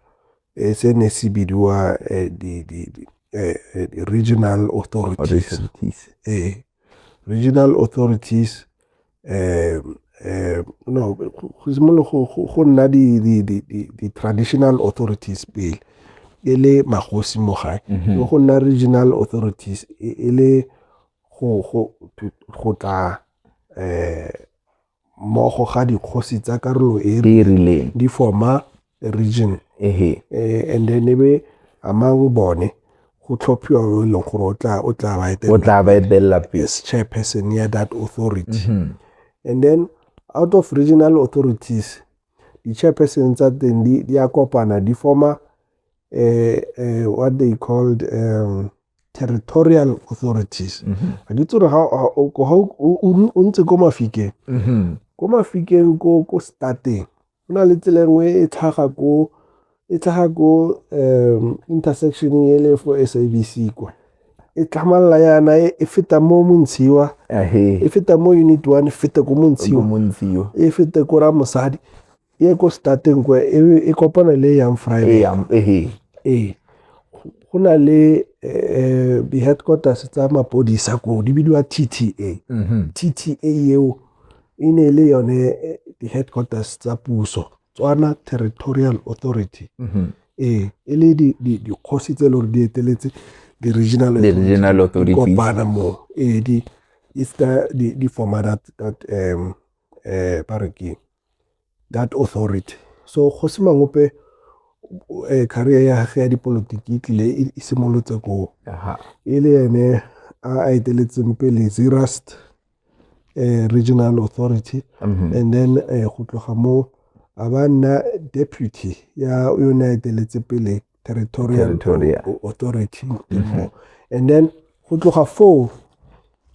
Eh, se ne se bidiwa eh, di, di, di, eh, eh, di regional authorities Authorities. eh, regional authorities eh, eh, no go go simolo go- go go nna di- di- di- di- di-traditional authorities pele e le magosi mo gae Mhm. go nna regional authorities e e le go go to- go tla eh, mmogo ga dikgosi tsa karolo e e rileng di forma region ehe eh, and then e be among bone go tlhophiwa yo e leng gore o tla o tla ba o etela tla ba etelela pele as chairperson ya that authority Mhm. and then out of regional authorities di-chairperson tsa teng di, di a kopana di forma eh, eh, what they called um, territorial authorities mm-hmm. ga ke tsore ga o ntse ko mafikeng mm-hmm. ko mafikeng ko ko stateng go na le tsela nngwe e tlhaga ko e tlhaga ko um intersection e le for sabc kwa e tlhamalala yana e, e feta mo montshiwa e feta mo unit one e feta ko montshiwa e feta ko ramosadi e ko stateng kwa e be e kopana le yang e friday yang ehe ee go na le eh, di-headquarters tsa mapodisa koo di bidiwa tta mhm tta eo e ne e le yone eh, di-headquarters tsa puso tswana territorial authority mhm ee e le di- di- dikgosi tse e le gore di eteletse di-regional The authority, regional di authorities. kopana moo ee di it's ka di, di forma that, that um, eh, ba re ke that authority. So Kgosi Mangope eh, career ya gage ya dipolotiki e tlile e- e simolotse koo Aha. e le ene a a eteletseng pele zerust eh, regional authority Mhm. and then eh, go tloga mo a ba nna deputy ya yone a eteletse pele territorial, territorial. authority mm -hmm. and then go tloga foo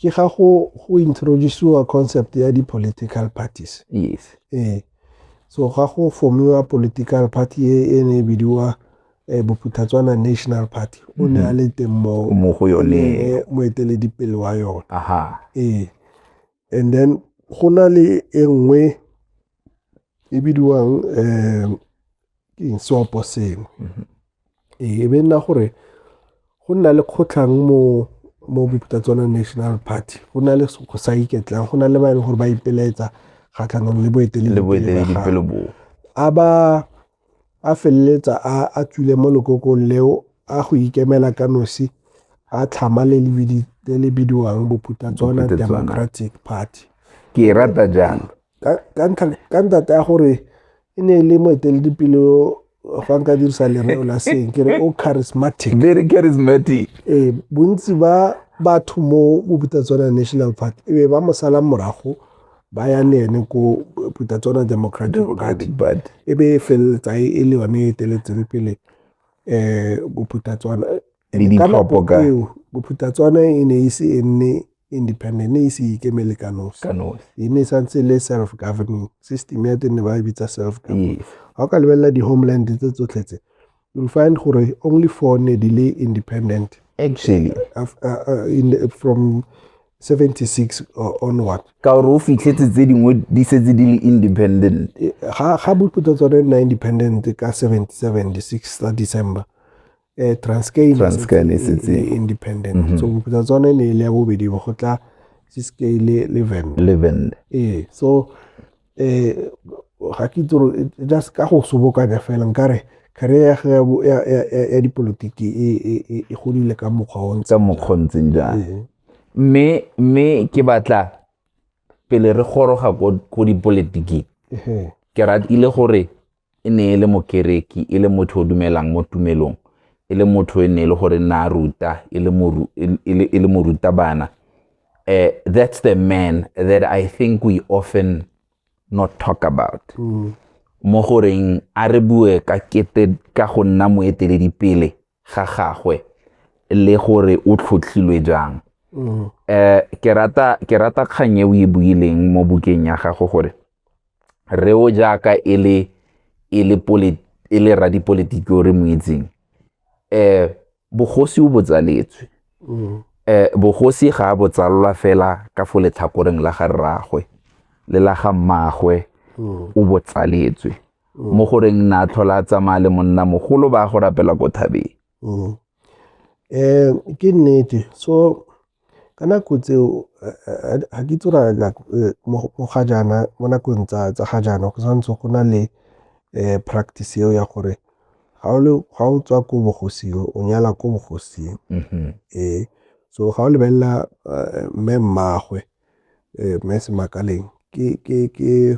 ke ga go go introduceiwa concept ya di-political parties yes ee so ga go formiwa political party e e ne e bidiwa um bophuthatswana national party o ne a mm-hmm. le teng moo mo go yone moeteledipele wa yone ee and then go na le e nngwe e bidiwang um eng seopo sengwe mm-hmm. ee e be nna gore go nna le kgotlhang mo mo bopitatswana national party go na le go sa iketlang go na le ba e leng gore ba ipelaetsa kgatlhanong le boeteledipele a ba a feleletsa a a tswile mo lekokong leo a go ikemela ka nosi a tlhama le le bidiwang bophutatswana democratic party ke e rata jang ka ntate ya gore e ne e le moeteledipele fa nka dirisa lereo la seng ke re o charismatic very charismatic ee bontsi ba batho mo bophutatswana national party e be ba mo salang morago ba yang le ene ko puta tsona democratic party e be e feleletsa e e le yone e eteletseng pele um boputa tswana Le ka nako ditlhopho ka. eo boputa tswana e ne e se e nne independent ne e se ikemele ka nosi Ka nosi. e ne e santse e le self governing system ya teng ne ba e bitsa self government Yes. ga o ka lebelela di-homeland tse tsotlhe tse you'll find gore only four ne di le independent actually uh, uh, in the, from 76 uh, onward ka gore o fitlhetse tse dingwe di setse di le independent eh, ga ga boputsa tsone nna independent ka 77 the 6 tsa december eh transcale transcale e setse independent mm -hmm. so boputsa tsone ne le ya bobedi go tla siske le le vend le vend eh so eh ga ke itse gore just ka go sobokanya fela nkare career ya ge ya bo- ya- ya- ya- ya dipolotiki e- e- e- e godile ka mokgwa o ntse tsa mokgontseng jang Ee. mme mme ke batla pele re goroga ko ko dipoletiking Ehe. ke ratile gore e ne e le mokereki, e le motho o dumelang mo tumelong, e le motho e ne e le gore nna a ruta e le moru e le morutabana uh, that's the man that i think we often not talk about mm. mo goreng a re bue ka kete ka go nna moeteledipele ga gagwe le gore o tlhotlhilwe jang mm. eh ke rata ke rata kgang e o e buileng mo bukeng ya gago gore re o jaaka e le e le politi e le radipolitiki o re mo itseng eh bogosi o botsaletswe mm. eh bogosi ga a botsalwa fela ka fo letlhakoreng la ga rragwe le la ga mmagwe mm. o botsaletswe mo mm. goreng na tlhola a tsamaya le monna mogolo ba go rapela ko thabeng mm. eh ke nnete so ka nako tseo ga ke tsora eh, mo ga jaana mo nakong tsa tsa ga jaana go santse go na le eh practice eo ya gore ga o le ga o tswa ko bogosing o nyala ko bogosing mm-hmm. eh so ga o lebelela eh, mme mmagwe eh, mme semakaleng ke ke ke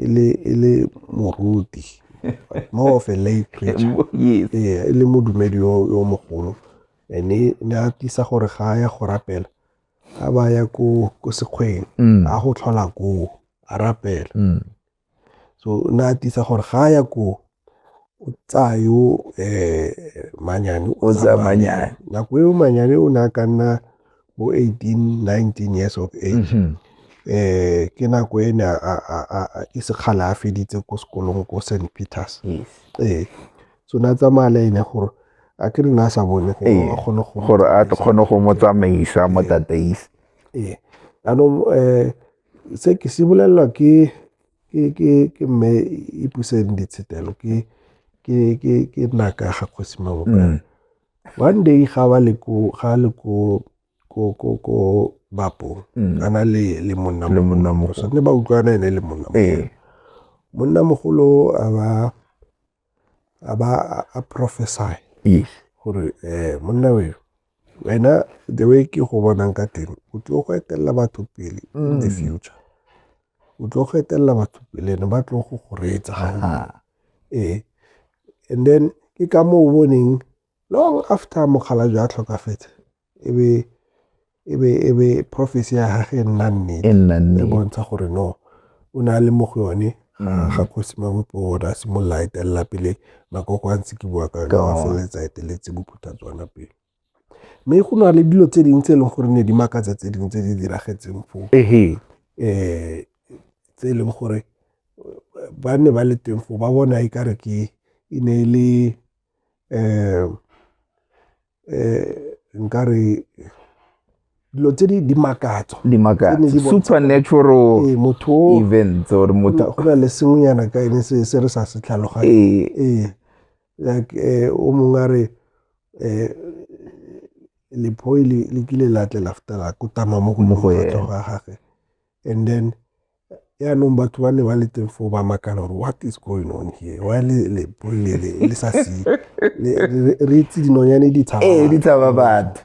e le e le moruti more of a lay preacher yes ee e le modumedi yo yo mogolo ene ne a tisa gore ga a ya go rapela a ba ya ko ko sekgweng Mm. a go tlhola koo a rapela Mm. so ne a tisa gore ga a ya koo o tsaya yo um manyane o tsaya manyane nako eo manyane o ne a ka nna bo eighteen nineteen years of age um ke nako e ne a e sekgala a feditse ko sekolong ko St Peters ee so ne a tsamaya le ene gore a ke re ne a sa bone gore a kgone go mo tsamaisa mo tataise ee jaanong um se ke se bolelelwa ke ke mme e puseng ditshetelo ke naka ga kgosi mabokana mm. one day ga ba le ko ga le ko ko ko ko bapo mm. ana le le monna le monna mo so ne ba utlwana ene le monna mo eh. monna mogolo a ba a ba a- a prophesy yes gore um monna weo wena the way ke go bonang ka teng o tlo go etelela batho pele in the Mm. future o tlo go etelela batho pele ne ba tlo go go reetsa gaufi. Aha. ee and then ke ka moo o boneng long after mokgalajwe a tlhokafetse e be e be e be prophecy ya gage e nna nnete e nna nnete e bontsha gore no o ne a le mo go yone mm. ga kgosi mabopo gore a simolola a etelela pele makoko a ntse ke bua ka yone a feleletsa eteletse bophutha tswana pele mme go na le dilo tse dingwe tse e leng gore ne di makatsa tse dingwe tse di diragetseng foo um tse e leng gore ba ne ba le teng foo ba bona e kare ke e ne e le nkare dilo tse di di makatsa di makatsa ne di bontsha- supernatural Ee, motho o- events or go motho na- go na le sengwenyana ka ene se se re sa se tlhaloganye ee ee like eh, o mongwe a re eh, lephoi le le kile la tle la feta la kotama mo go Mo go mofatso ene. ga gage and then yaanong batho ba ne ba le teng foo ba makala gore what is going on here wa le le le le le sa se re itse dinonyane di tshaba ee di tshaba batho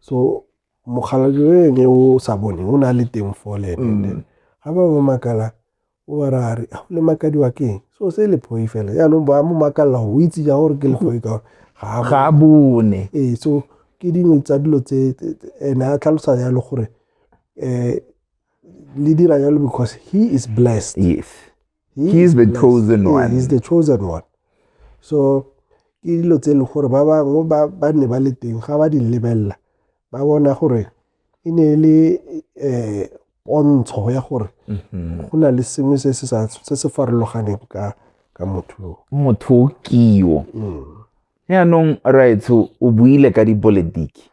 so mokgalajweng e o sa bone o ne a le teng foo le ene mm. ga ba ba makala O ba ra re, a le makadiwa ke eng? So se le phoi fela. Jaanong ba mo makalela go itse ja gore ke le phoi ka gore ga a bone. Ee, so ke dingwe tsa dilo tse ene a tlhalosa jalo gore um le dira jalo because he is blessed. Yes. He, he is, is the blessed. chosen one. Yeah, he is the chosen one. So ke dilo tse e leng gore ba bangwe ba ne ba le teng ga ba di lebelela ba bona gore e ne e le um pontsho ya gore mm-hmm. go na le sengwe se se farologaneng ka ka motho yo motho o kio mm. yaanong raetsho o buile ka dipolotiki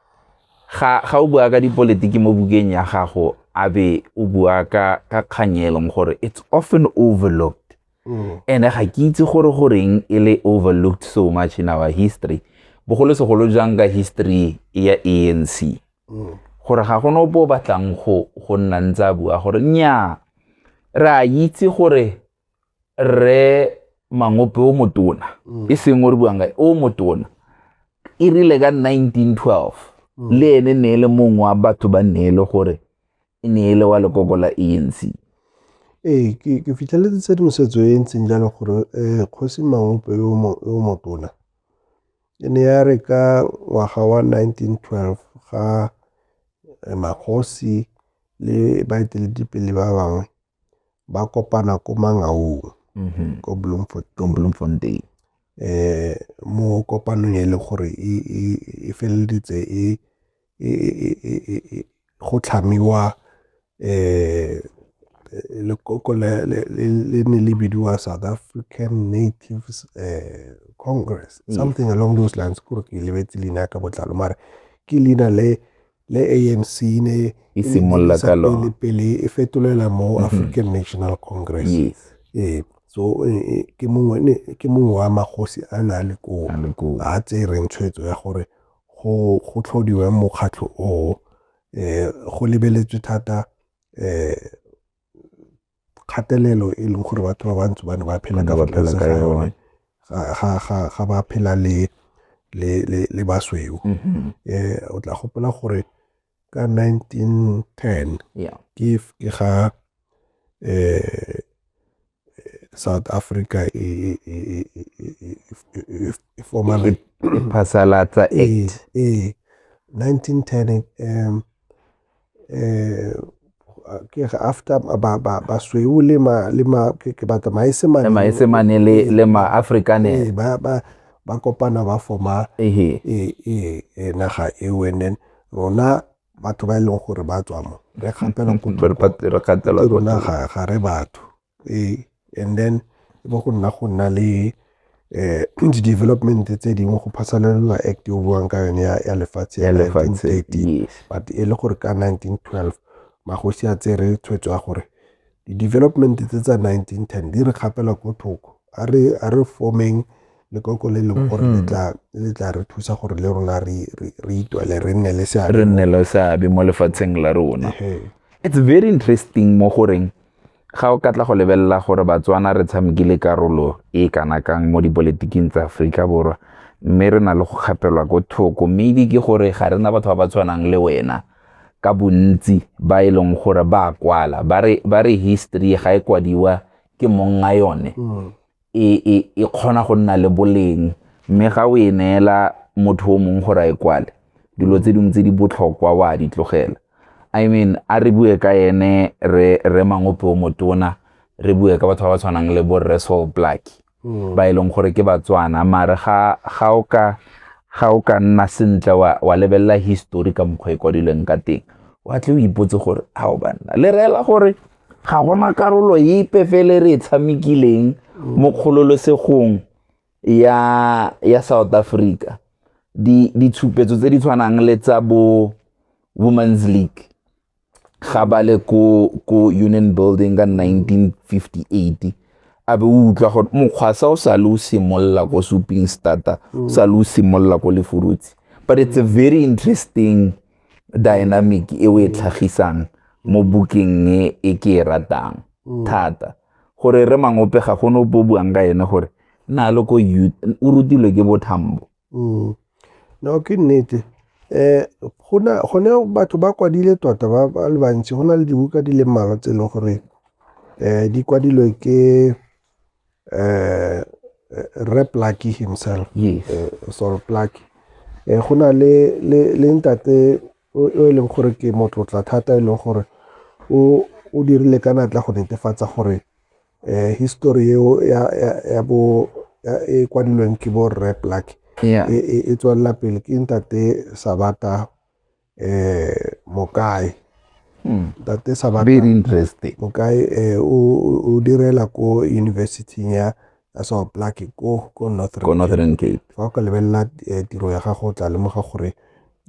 ga ga o bua ka dipolotiki mo bukeng ya gago a be o bua ka ka kganyelong gore it's often overlooked mm. ene ga ke itse gore goreng e le overlooked so much in our history bogolosegolo jang ka history ya anc mm. gore ga gone ope o batlang go nna ntse a bua gore nnyaa re a itse gore re mangope o motona mm. e seng o re buang ka o motona e rile ka 1912 mm. le ene ne e le mongwe wa batho ba ne e le gore e ne e le wa lekoko la ANC. Ee, ke fitlheletse tshedimosetso e ntseng jalo gore um kgosi mangope yo motona e ne ya re ka ngwaga wa 1912 ga eh, magosi le baeteledipele ba bangwe ba kopana ko Mangaung mm-hmm. ko Bloemfontein eh mo kopanong e le gore e, e, e feleleditse e, e, e, e, e, e go tlhamiwa eh lekoko le ne le bidiwa south african natives eh, congress something along those lines kore ke lebetse leina ka botlalo mare ke leina le le ANC ne e e simolola ka lone pele e fetolela mo mhm. African National Congress yes eh so e, e, ke mongwe ne ke mongwe wa magosi a na le ko a tsereng tshwetso ya gore go go tlhodiwe mokgatlho o eh go lebeletswe thata eh kgatelelo e leng gore batho ba bantsho ba ne ba phela ka tlase ga yone ga ba phela le le le le basweu um mm-hmm. eh, o tla gopola gore ka 1910 ke ke ga eh South Africa e e e e formal phasalatsa act eh 1910 um eh, ke re after ba ba ba sweu le ma le ma ke ke batla maesemane le maesemane le le ma afrikaner eh, ba ba ba kopana ba forma e e e naga e wenen rona batho ba e leng gore ba tswa mo re gapela go re gatelwa rona ga re batho Ee, and then e be go nna go nna le di-development tse dingwe go phasaladiwa act e o buang ka yone ya lefatshe ya nineteen thirty but e le gore ka nineteen twelve magosi a tsere tshwetso ya gore di-development tse tsa nineteen ten di re kgapela ko thoko a re a re formeng lekoko le leng gore le tla le tla re thusa gore le rona re re itwele re nne le seabe re nne le seabe mo lefatsheng la rona it's very interesting mo goreng Ga o ka tla go lebelela gore Batswana re tshamekile karolo e kana kang mo dipoletiking tsa Aforika Borwa mme re na le go kgapelwa ko thoko mme ebe ke gore ga re na batho ba ba tshwanang le wena ka bontsi ba e leng gore ba kwala ba re history ga e kwadiwa ke mong a yone e, e, e kgona go nna le boleng mme ga o e neela motho o mongwe gore a e kwale dilo tse dingwe tse di botlhokwa wa a di tlogela i mean a re bue ka ene re re mangope o motona re bue ka batho ba ba tshwanang le bo resol black hmm. ba e leng gore ke batswana mare ga ga o ka ga o ka nna sentle wa, wa lebelela history ka mokgwa e kwadilweng ka teng wa tle o ipotse gore a o banna le reela gore Ga gona karolo epe fele re e tshamekileng mo kgololesegong ya ya South Africa di ditshupetso tse di tshwanang le tsa bo Women's League ga ba le ko ko Union Building ka 1958 a be o utlwa gore mokgwasa o sa le o simolola ko suping starter o sa le o simolola ko lefurutse but it's a very interesting dynamic e o e tlhagisang mo bukeng e e ke e ratang mm. thata gore re mangope ga go nopo buang ka ene gore na le ko youth o rutilwe ke bothambo mm. no ke nnete um gone batho ba kwadile tota ba le bantsi go na le dibuka di le mmalwa tse e leng gore um di kwadilwe ke eh, eh re plaki himself yes. eh, sol plaki eh, go na le, le, le ntate o e leng gore ke motlotla thata e leng gore o, o dirile ka natla go netefatsa gore eh, history eo ya, ya, ya bo ya, e kwadilweng ke bo rre plaki yeah. e, e, e tswelela pele ke ntate sabata eh mokae hmm. ntate sabata very interesting mokae eh o o direla ko university ya ya sao plake ko ko northern ko northern cape fa o ka lebelela eh, tiro ya gago o tla lemoga gore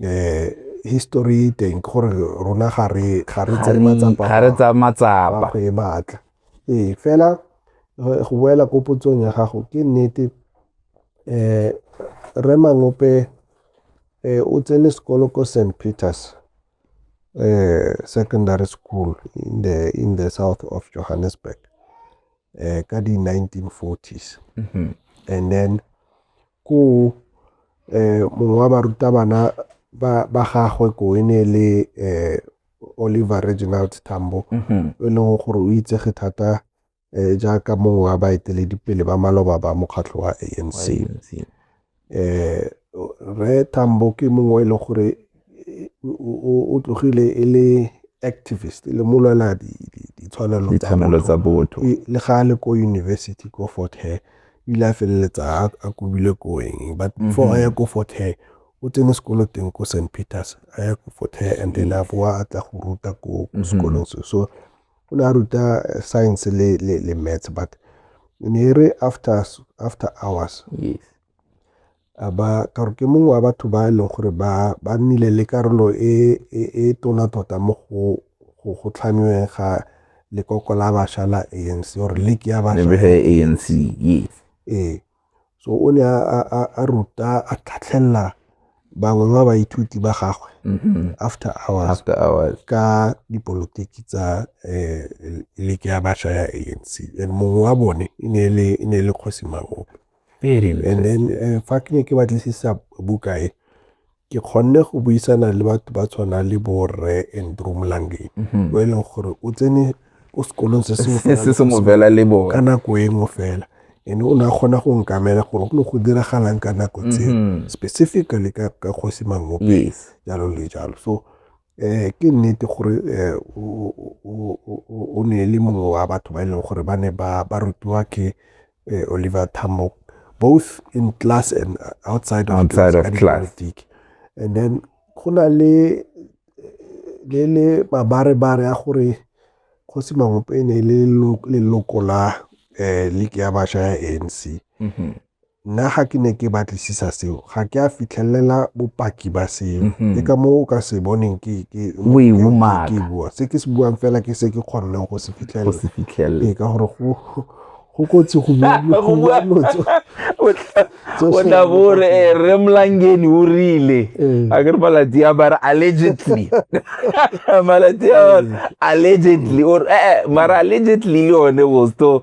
eh history teng ke gore rona ga re ga re tsa matsapa ga re tsa matsapa go e batla ee fela eh, go boela ko potsong ya gago ke nnete eh re mangope o tsene sekolo ko St. Peters Secondary School in the, in the south of Johannesburg eh, ka di-1940s mm -hmm. and then ko eh, mongwe wa barutabana ba, ba gagwe ko e ne le eh, Oliver Reginald Tambo mm -hmm. e leng gore o itsege thata jaaka mongwe wa baeteledipele ba maloba ba mokgatlho wa anc eh re tambo ke mongwe e leng gore o tlogile e le activist le molwela ditshwanelo tsa botho le ga a le ko university ko fort hair ile a feleletsa a kobile ko eng but mhm. before a ya ko fort hair o tsene sekolo teng ko st peters a ya ko fort hair and then a boa a tla go ruta ko mhm. sekolong se so O ne a ruta science le, le, le maths but ne e re after, after hours yes a ba ka gore ke mongwe wa batho ba e leng gore ba ba nnile le karolo e e, e tona tota mo go go go tlhamiweng ga lekoko la basha la anc or league ya basha anc yes ee so o ne a ruta a tlhatlhelela bangwe ba baithuti ba gagwe mm-hmm. after hours, after hours. ka dipolotiki tsa um leke ya bašwa ya a n c and mongwe wa bone e ne e le kgosi magope and then eh, fa ke ne ke batlisisa buka e ke kgonne go buisana le batho ba tshwana le bo rre andrew molangeng mhm. o e leng gore o tsene ko sekolong se se mo bela le bone ka nako e nngwe fela ene o ne a kgona go nkamela gore go ne go diragalang ka nako tse mhm. specifically ka kgosi mangope jalo le jalo so Ke nnete gore o ne e le mongwe wa batho ba e leng gore ba ne ba rutiwa ke Oliver Tambo both in class and outside of outside of class and then go na le le le mabarebare a gore kgosi mangopeng e le leloko la eh league ya basha ya ANC mm-hmm. Nna ga ke ne ke batlisisa seo ga ke a fitlhelela bopaki ba seo mhm. ke ka moo o ka se boneng ke bua se ke se buang fela ke se ke kgonneng go se fitlhelela ka gore go kotsi go bua lotso o tla bore eh, re mlangeni o rile eh. a ke re malatsi a bare allegedly malatsi a eh. allegedly or eh mara allegedly le yone was to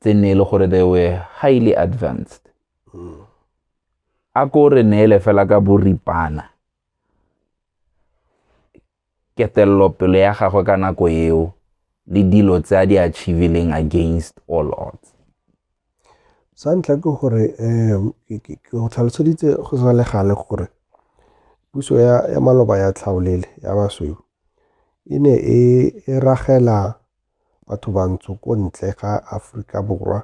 tse nne e le gore they were highly advanced a ko re neele fela ka boripana ketelelopelo ya gagwe ka nako eo le dilo tse a di achievileng against all odds sa ntlha ke gore um ke go tlhaloseditse go sa le gale gore puso ya maloba ya tlhaolele ya basweu e ne e, e ragela batho bantsho ko ntle ga Aforika Borwa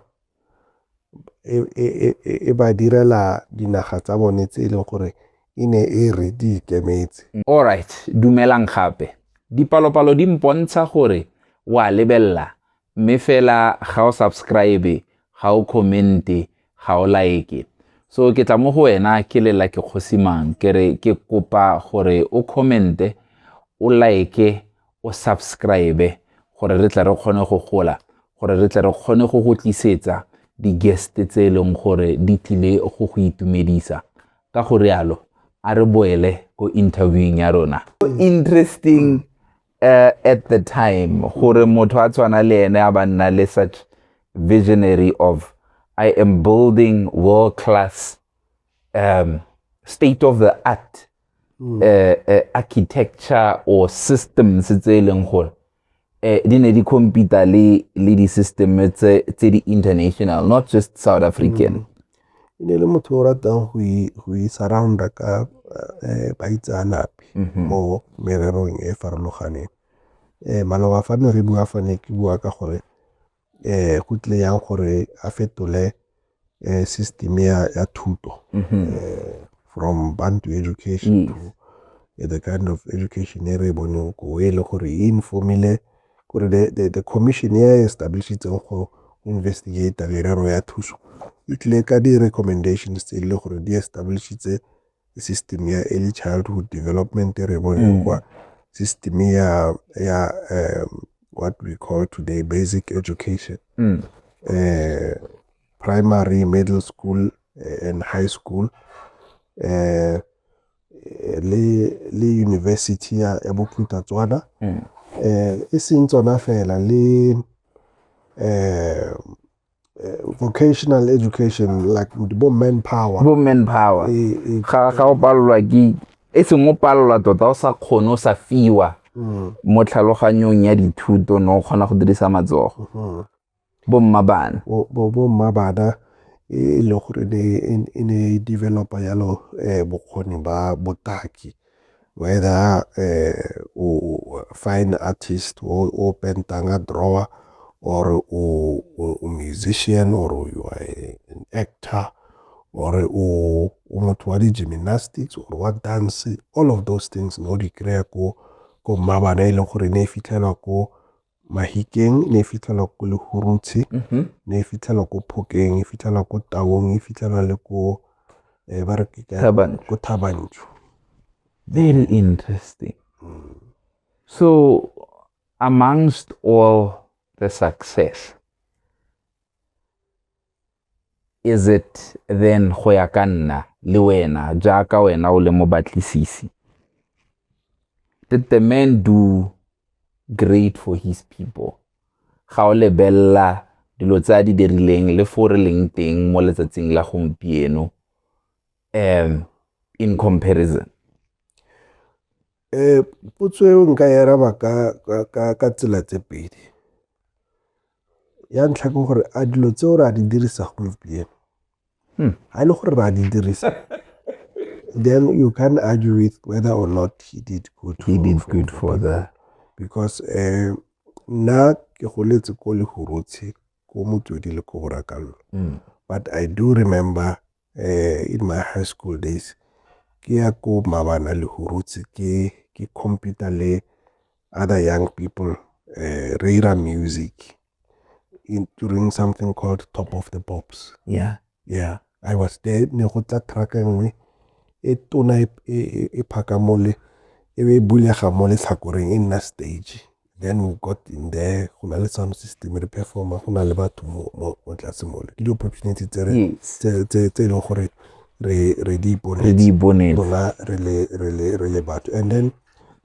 e ba direla dinaga tsa bone tse e leng gore e ne e re di ikemetse. Alright, dumelang gape. Dipalopalo di mpontsha gore wa lebelela mme fela ga o subscribe, ga o commente, ga o like. So ke tla mo go wena ke lela ke kgosimang ke re ke kopa gore o commente, o like, o subscribe gore re tle re kgone go gola gore re tle re kgone go go tlisetsa di-guest tse e leng gore di tlile go go itumedisa ka go rialo a re boele ko interviewing ya rona interesting uh, at the time gore motho a tshwana le ene a ba nna le such visionary of i am building world class um, state of the art hmm. eh, eh, architecture or systems tse e leng gore eh, di ne di compete le le di-system tse tse di-international not just south african mm. e ne le motho o ratang go isurrounda e ka eh, baitseanape mm -hmm. mo mererong e farologaneng eh, maloba fa ne re bua fane ke bua ka gore eh go tlile yang gore a fetole eh system ya ya thuto mm-hmm. eh from bantu education mm. to eh, the kind of education e re boneng ko e le gore e informile gore the, the, the commission ya e establishitseng go investigate merero ya thuso e tlile ka di-recommendations tse e le gore di establishitse system ya early childhood development re bone mm. kwa system ya ya um, what we call today basic education mm. uh, primary middle school eh, and high school uh, le le university ya ya boputa tswana mm. eh e seng tsona fela le eh eh, vocational education like bo manpower bo manpower eh, eh, ga ga o palelwa ke e seng o palelwa tota o sa kgone o sa fiwa mm. mo tlhaloganyong ya dithuto no o kgona go dirisa matsogo mm-hmm. bo mma bana bo mma bana e le gore e ne e developa yalo um bokgoni ba botaki whether o fine artist o pentang a drawer or o, o, o musician or you are a, an actor or o, o motho wa di-gymnastics or wa dance all of those things no di kry-a ko ko mmabana e leng gore ne e fitlhelwa ko Mahikeng, ne e fitlhelwa ko Lehurutshe, mm-hmm. ne e fitlhelwa ko Phokeng, e fitlhelwa ko Taung, e fitlhelwa le ko eh, ba re ko Thabantsho. Very interesting. Mm. So amongst all the success, Is it then go ya ka nna le wena jaaka wena o le mobatlisisi? Did the man do great for his people? Ga o lebelela dilo tse a di dirileng le fo re leng teng mo letsatsing la gompieno um in comparison um potso eo nka e araba ka tsela tse pedi Ya ntlha ke gore a dilo tseo re a di dirisa gompieno. Hmm. A le gore re a di dirisa. Then you can argue with whether or not he did good. He for, did good for that. Because uh, nna ke goletse ko lehurutshe ko motswedi le ko borakallo. Hmm. But I do remember in my high school days ke ya ko mabana le hurutse ke ke computer le other young people uh, re ira music in, during something called top of the pops yeah yeah i was there ne go tla truck e nngwe e tona e, e, e, e phaka mole e be e bulega mo letlhakoreng e nna stage then we got in there go na le sound system re performa go na le batho mo tlase mole ke di-opportunity tse e leng gore re di iponela re le batho and then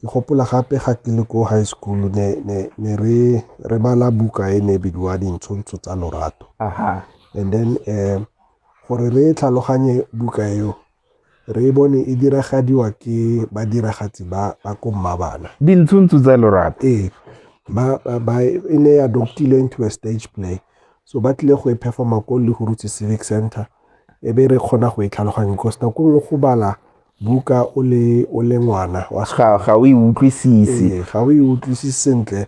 ke gopola gape ga ke le ko high school ne, ne, ne re, re bala buka e ne e bidiwa dintshontsho tsa lorato and then um gore re tlhaloganye buka eo Re e bone e diragadiwa ke badiragatsi ba ba ko Mmabana. Dintshuntshu tsa lorato. Ee. Ba, ba, ba, e ne ya doctilwe into a stage play. So ba tlile go e performa ko Lehurutse Civic Center. E be re kgona go e tlhaloganya because nako nngwe go bala buka o le, o le ngwana wa ga, ga o e utlwisise. Ee, ga o e utlwisise sentle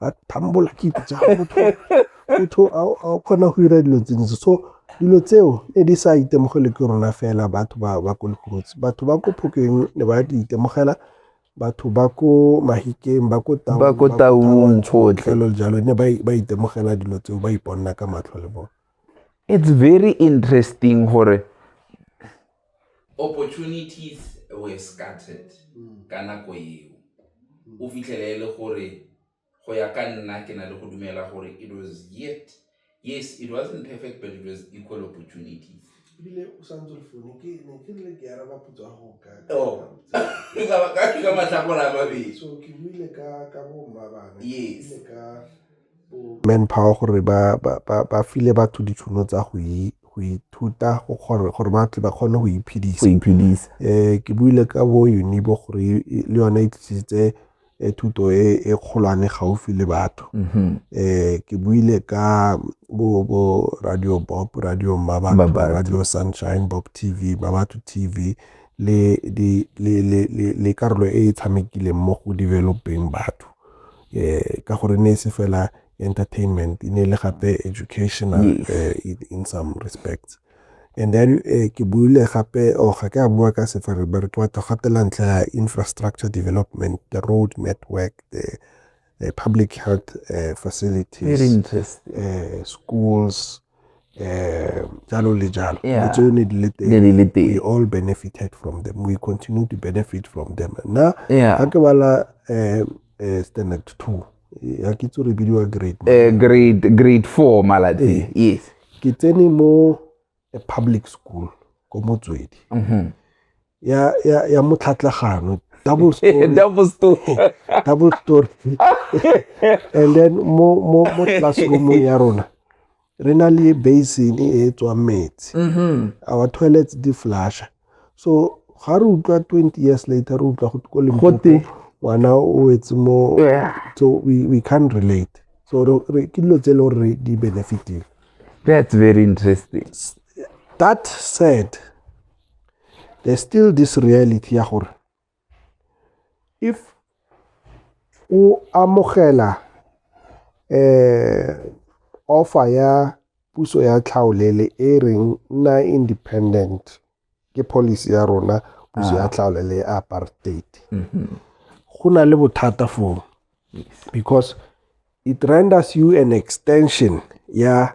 a thambola ke itse motho a kgona go dira dilo tse dintsi so dilo tseo ne di sa itemogele ke rona fela batho ba ba ko lekhurutsi batho ba ko phokeng ne ba di itemogela batho ba ko mahikeng ba ko taung ba ko taung tsotlhe jalo ne ba itemogela dilo tseo ba iponna ka matlho le bone It's very interesting gore opportunities were scattered ka nako eo. O fitlhele e le gore go ya ka nna ke na le go dumela gore it was yet yes it wasn't perfect but it was equal opportunities. Ebile o sa ntse le founu ke ne ke rile ke araba potso ya go ka Oh. ka ka matlhakore a mabedi. So ke buile ka ka bo mma bana. Yes. Ke buile ka manpower gore ba file batho ditšhono tsa go ithuta gore ba tle ba kgone go iphedisa. Um ke buile ka bo unibo gore e, le yone e tlisitse e, thuto e, e kgolwane gaufi le batho mm-hmm. um ke buile ka bo bo radio bob radio mmabatho radio sunshine bob tv mmabatho tv le karolo e e tshamekileng mo go developeng batho um ka gore ne e se fela entertainment e ne e le gape educational yes. uh, in, in some respects and then uh, ke buile gape o oh, ga ke a bua ka sefere ba re ke batla gatela ntlha ya infrastructure development the road network the uh, public health uh, facilities uh, schools eh, jalo le jalo yeah. le tsone di le teng we all benefited from them we continue to benefit from them nna yeah. ga ke bala eh, eh, standard two ya ke tso re bidiwa grade eh, grade grade four maladi eh, yes ke tsene mo a public school ko motswedi mm -hmm. ya ya ya motlhatlagano double story double story double story and then mo mo mo classroom ya rona re na le basin e tswang metsi mm-hmm. our toilets di flasha so ga re utlwa 20 years later re utlwa go limpopo ngwana o wetse mo so we, we can't relate so re ke dilo tse e le gore re di benefitile that's very interesting that said there's still this reality ya gore if o amogela eh offer ya puso ya tlhaolele e reng nna independent ke policy ya rona puso ya tlhaolele ya apartheid go na le bothata foo because it renders you an extension ya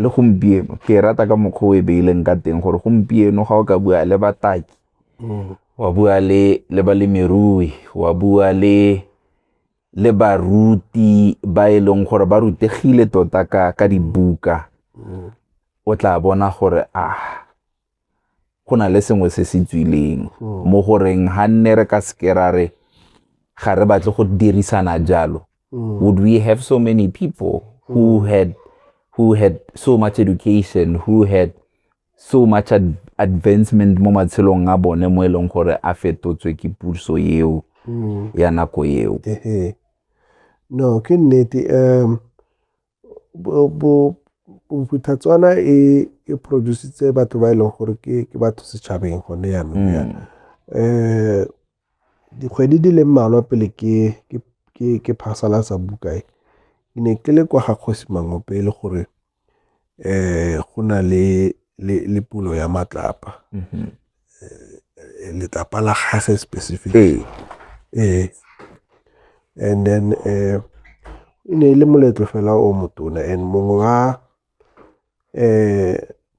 le gompieno ke e rata ka mokgwa o e beileng ka teng gore gompieno ga o ka bua le bataki mm. wa bua le le balemirui wa bua le le baruti ba e leng gore ba rutegile tota ka ka dibuka mm. o tla bona gore a ah, go na le sengwe se se tswileng hmm. mo goreng ga nne re ka seke ra re ga re batle go dirisana jalo hmm. would we have so many people who hmm. had who had so much education who had so much ad advancement mo matshelong a bone mo e leng gore a fetotswe ke puso eo ya nako eo no ke nnete um Bophuthatswana e produce-itse batho ba e leng gore ke batho setšhabeng gone yanong yana. Dikgwedi di le mmalwa pele ke phasalatsa buka e, ke ne ke le kwa ga kgosi Mangope e le gore go na le pulo ya matlapa. letlapa la gage specific. Ee, and then e ne e le moletlo fela o motona and mongwe wa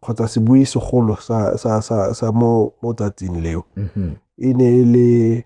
kgotsa sebui segolo sa mo tsatsing leo e ne e le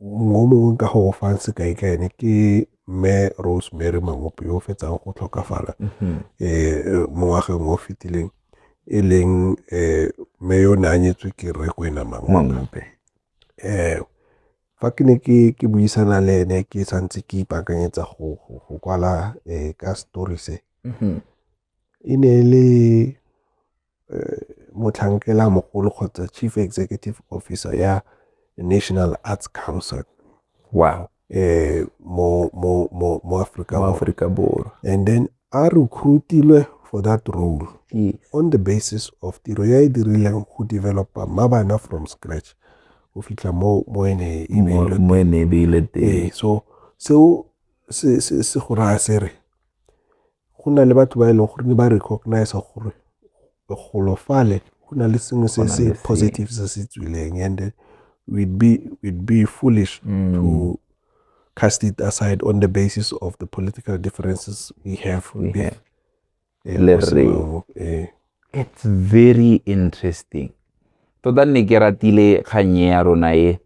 O mongwe ka go go fang sekai ka ene ke mme Rosemary Mangope yo o fetsang go tlhokafala mm-hmm. eh, mo ngwageng o fetileng e leng eh, mme yo ne a nyetswe ke rre kwena Mangope um fa ke ne ke buisana le ene ke santse ke ipaakanyetsa go kwala um ka story se mm-hmm. e ne e le motlhankela mogolo kgotsa chief executive officer ya National Arts Council wow. eh, mo, mo, mo, mo Africa, mo Africa Borwa. And then a recruitilwe for that role yes. on the basis of tiro ya e dirileng go developa mabana from scratch go fitlha mo mo ene e beile teng eh, so seo se go raya se re go na le batho ba e leng gore ne ba recognize gore golo fale go na le sengwe se se positive se se tswileng and then we'd be, we'd be foolish mm. to cast it aside on the basis of the political differences we have we have eh, it's very interesting tota nne ke ratile kgannye ya rona e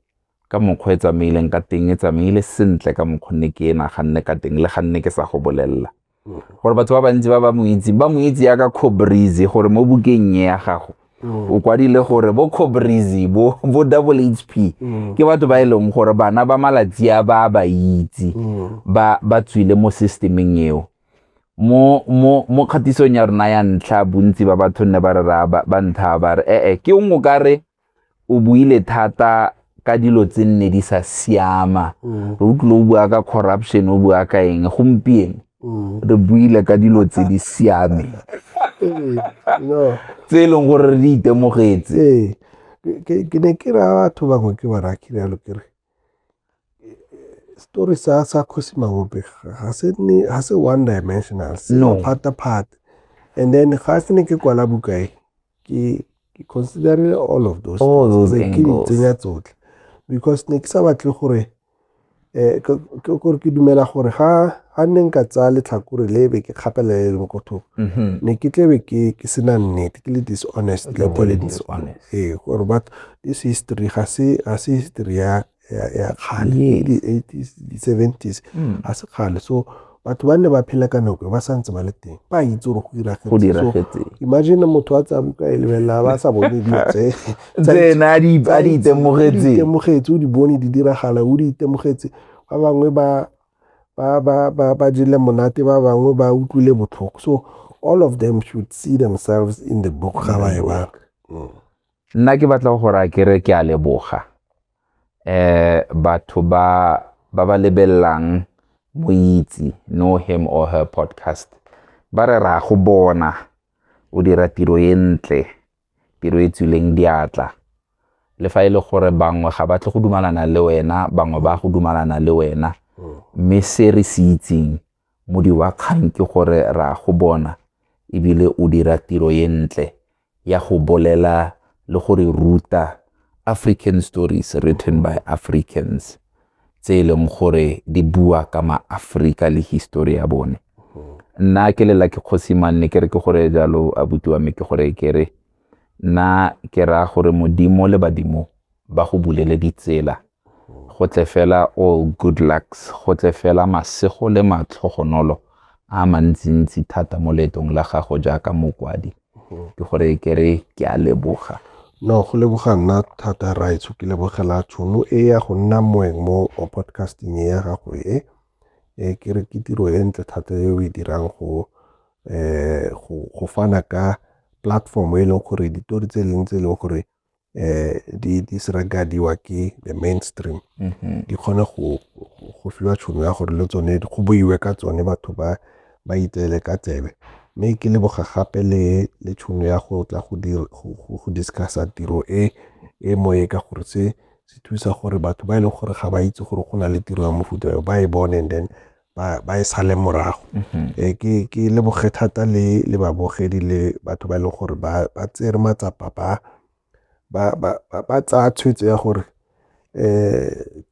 ka mokgwa e tsamaileng ka teng e tsamaile sentle ka mokgwa nne ke e naganne ka teng le ga nne ke sa go bolelela mm-hmm. gore batho ba bantsi ba ba mo itse ba mo itse ya ka cobrizy gore mo bukeng e ya gago mm. o kwadile gore bo cobrizy bo bo double hp mm. ke batho ba e leng gore bana ba malatsi a ba ba itse mm. ba ba tswile mo systemeng eo mo mo mo kgatisong ya rona ya ntlha bontsi ba batho nne ba re ra ba ntlha ba re ee ke o ka re o buile thata ka dilo tse nne di sa siama mm. re utlwile o bua ka corruption o bua ka eng gompieno mm. re buile ka dilo tse di siame tse e leng gore re di itemogetse ke ne ke ra batho bangwe ke ba rakile yalo kere Setori sa sa Kgosi Magope ga se nne ga se one dimensional se No. phata phata. And then ga se ne ke kwala buka e ke ke considerile all of those. All things. those Be ke di angles. tsenya tsotlhe because ne ke sa batle gore eh ke ke- gore ke dumela gore ga ga nne nka tsaya letlhakore le be ke kgapela le leng ko thoko Mhm. ne ke tle be ke ke sena nnete ke le dishonest Ke le tle be le dishonest. ee gore batho this history ga se ga se history ya ya kgale di 80s di 70s hmm. ga se kgale so batho ba ne ba phela ka nako ba santse ba le teng ba itse gore go diragetse imagine motho a tsa buka e lebelela ba sa bone dilo tse tsena a di itemogetse itemogetse o di bone di diragala o di itemogetse ba bangwe ba ba ba ba ba jele monate ba bangwe ba utlwile botlhoko so all of them should see themselves in the book ga ba e bala Nna ke batla go raya ke re ke a leboga um batho ba ba ba lebelelang moitse know him or her podcast ba re ra go bona o dira tiro e ntle tiro e tswileng diatla le fa e le gore bangwe ga batle go dumalana le wena bangwe ba go dumalana le wena mme se re se itseng Modi wa kgang ke gore re a go bona e bile o dira tiro e ntle ya go bolela le go re ruta African stories written by Africans tse e leng gore di bua ka ma-Afrika le history ya bone. Nna ke lela ke kgosi manne ke re ke gore jalo abuti wa me ke gore ke re nna ke raya gore modimo le badimo ba go bulele ditsela go tle fela o oh, good lucks go tle fela masego le matlhogonolo a mantsintsi thata mo leetong la gago jaaka mokwadi ke gore ke re ke a leboga no go leboga nna thata raitsho ke lebogela tšhono e ya go nna moeng mo podcasting e ya gago e e ke re ke tiro e ntle thata e o e dirang go um go fana ka platform e leng gore ditori tse e leng tse e leng gore eh di di sragadiwa ke the mainstream mm-hmm. di kgone go go fiwa tšhono ya gore le tsone go boiwe ka tsone batho ba ba itseele ka tsebe mme ke leboga gape le le tšhono ya go tla go dire go discussa tiro e e moye ka gore se se thusa gore batho ba e leng gore ga ba itse gore go na le tiro ya mofuta yo ba e bone and then ba, ba e sale morago mm-hmm. e ke ke leboge thata le le babogedi le batho ba e leng gore ba ba tsere matsapa ba ba ba ba tsaya tshwetso ya gore eh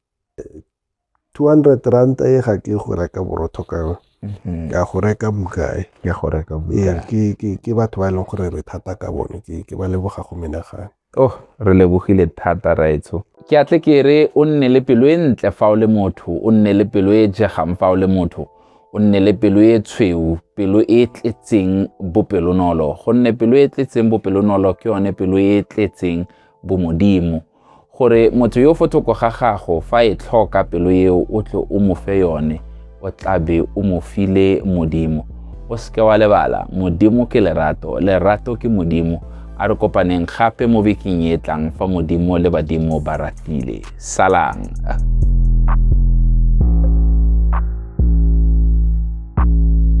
200 rand e ga ke go reka borotho ka yone mm-hmm. ka go reka bukae ke go reka bukae ke ke ke batho ba e leng gore re thata ka bone ke ke ba leboga go menagane Oh, re lebogile thata, Raetsho. Ke a tle ke re o nne le pelo e ntle fa o le motho, o nne le pelo e jegang fa o le motho, o nne le pelo e tshweu, pelo e tletseng bopelonolo, gonne pelo e tletseng bopelonolo ke yone pelo e tletseng bomodimo gore motho yo fo thoko ga gago fa e tlhoka pelo eo o tle o mo fe yone o tla be o mo file modimo o seke wa lebala modimo ke lerato lerato ke modimo a re kopaneng gape mo bekeng e tlang fa modimo le badimo ba ratile salang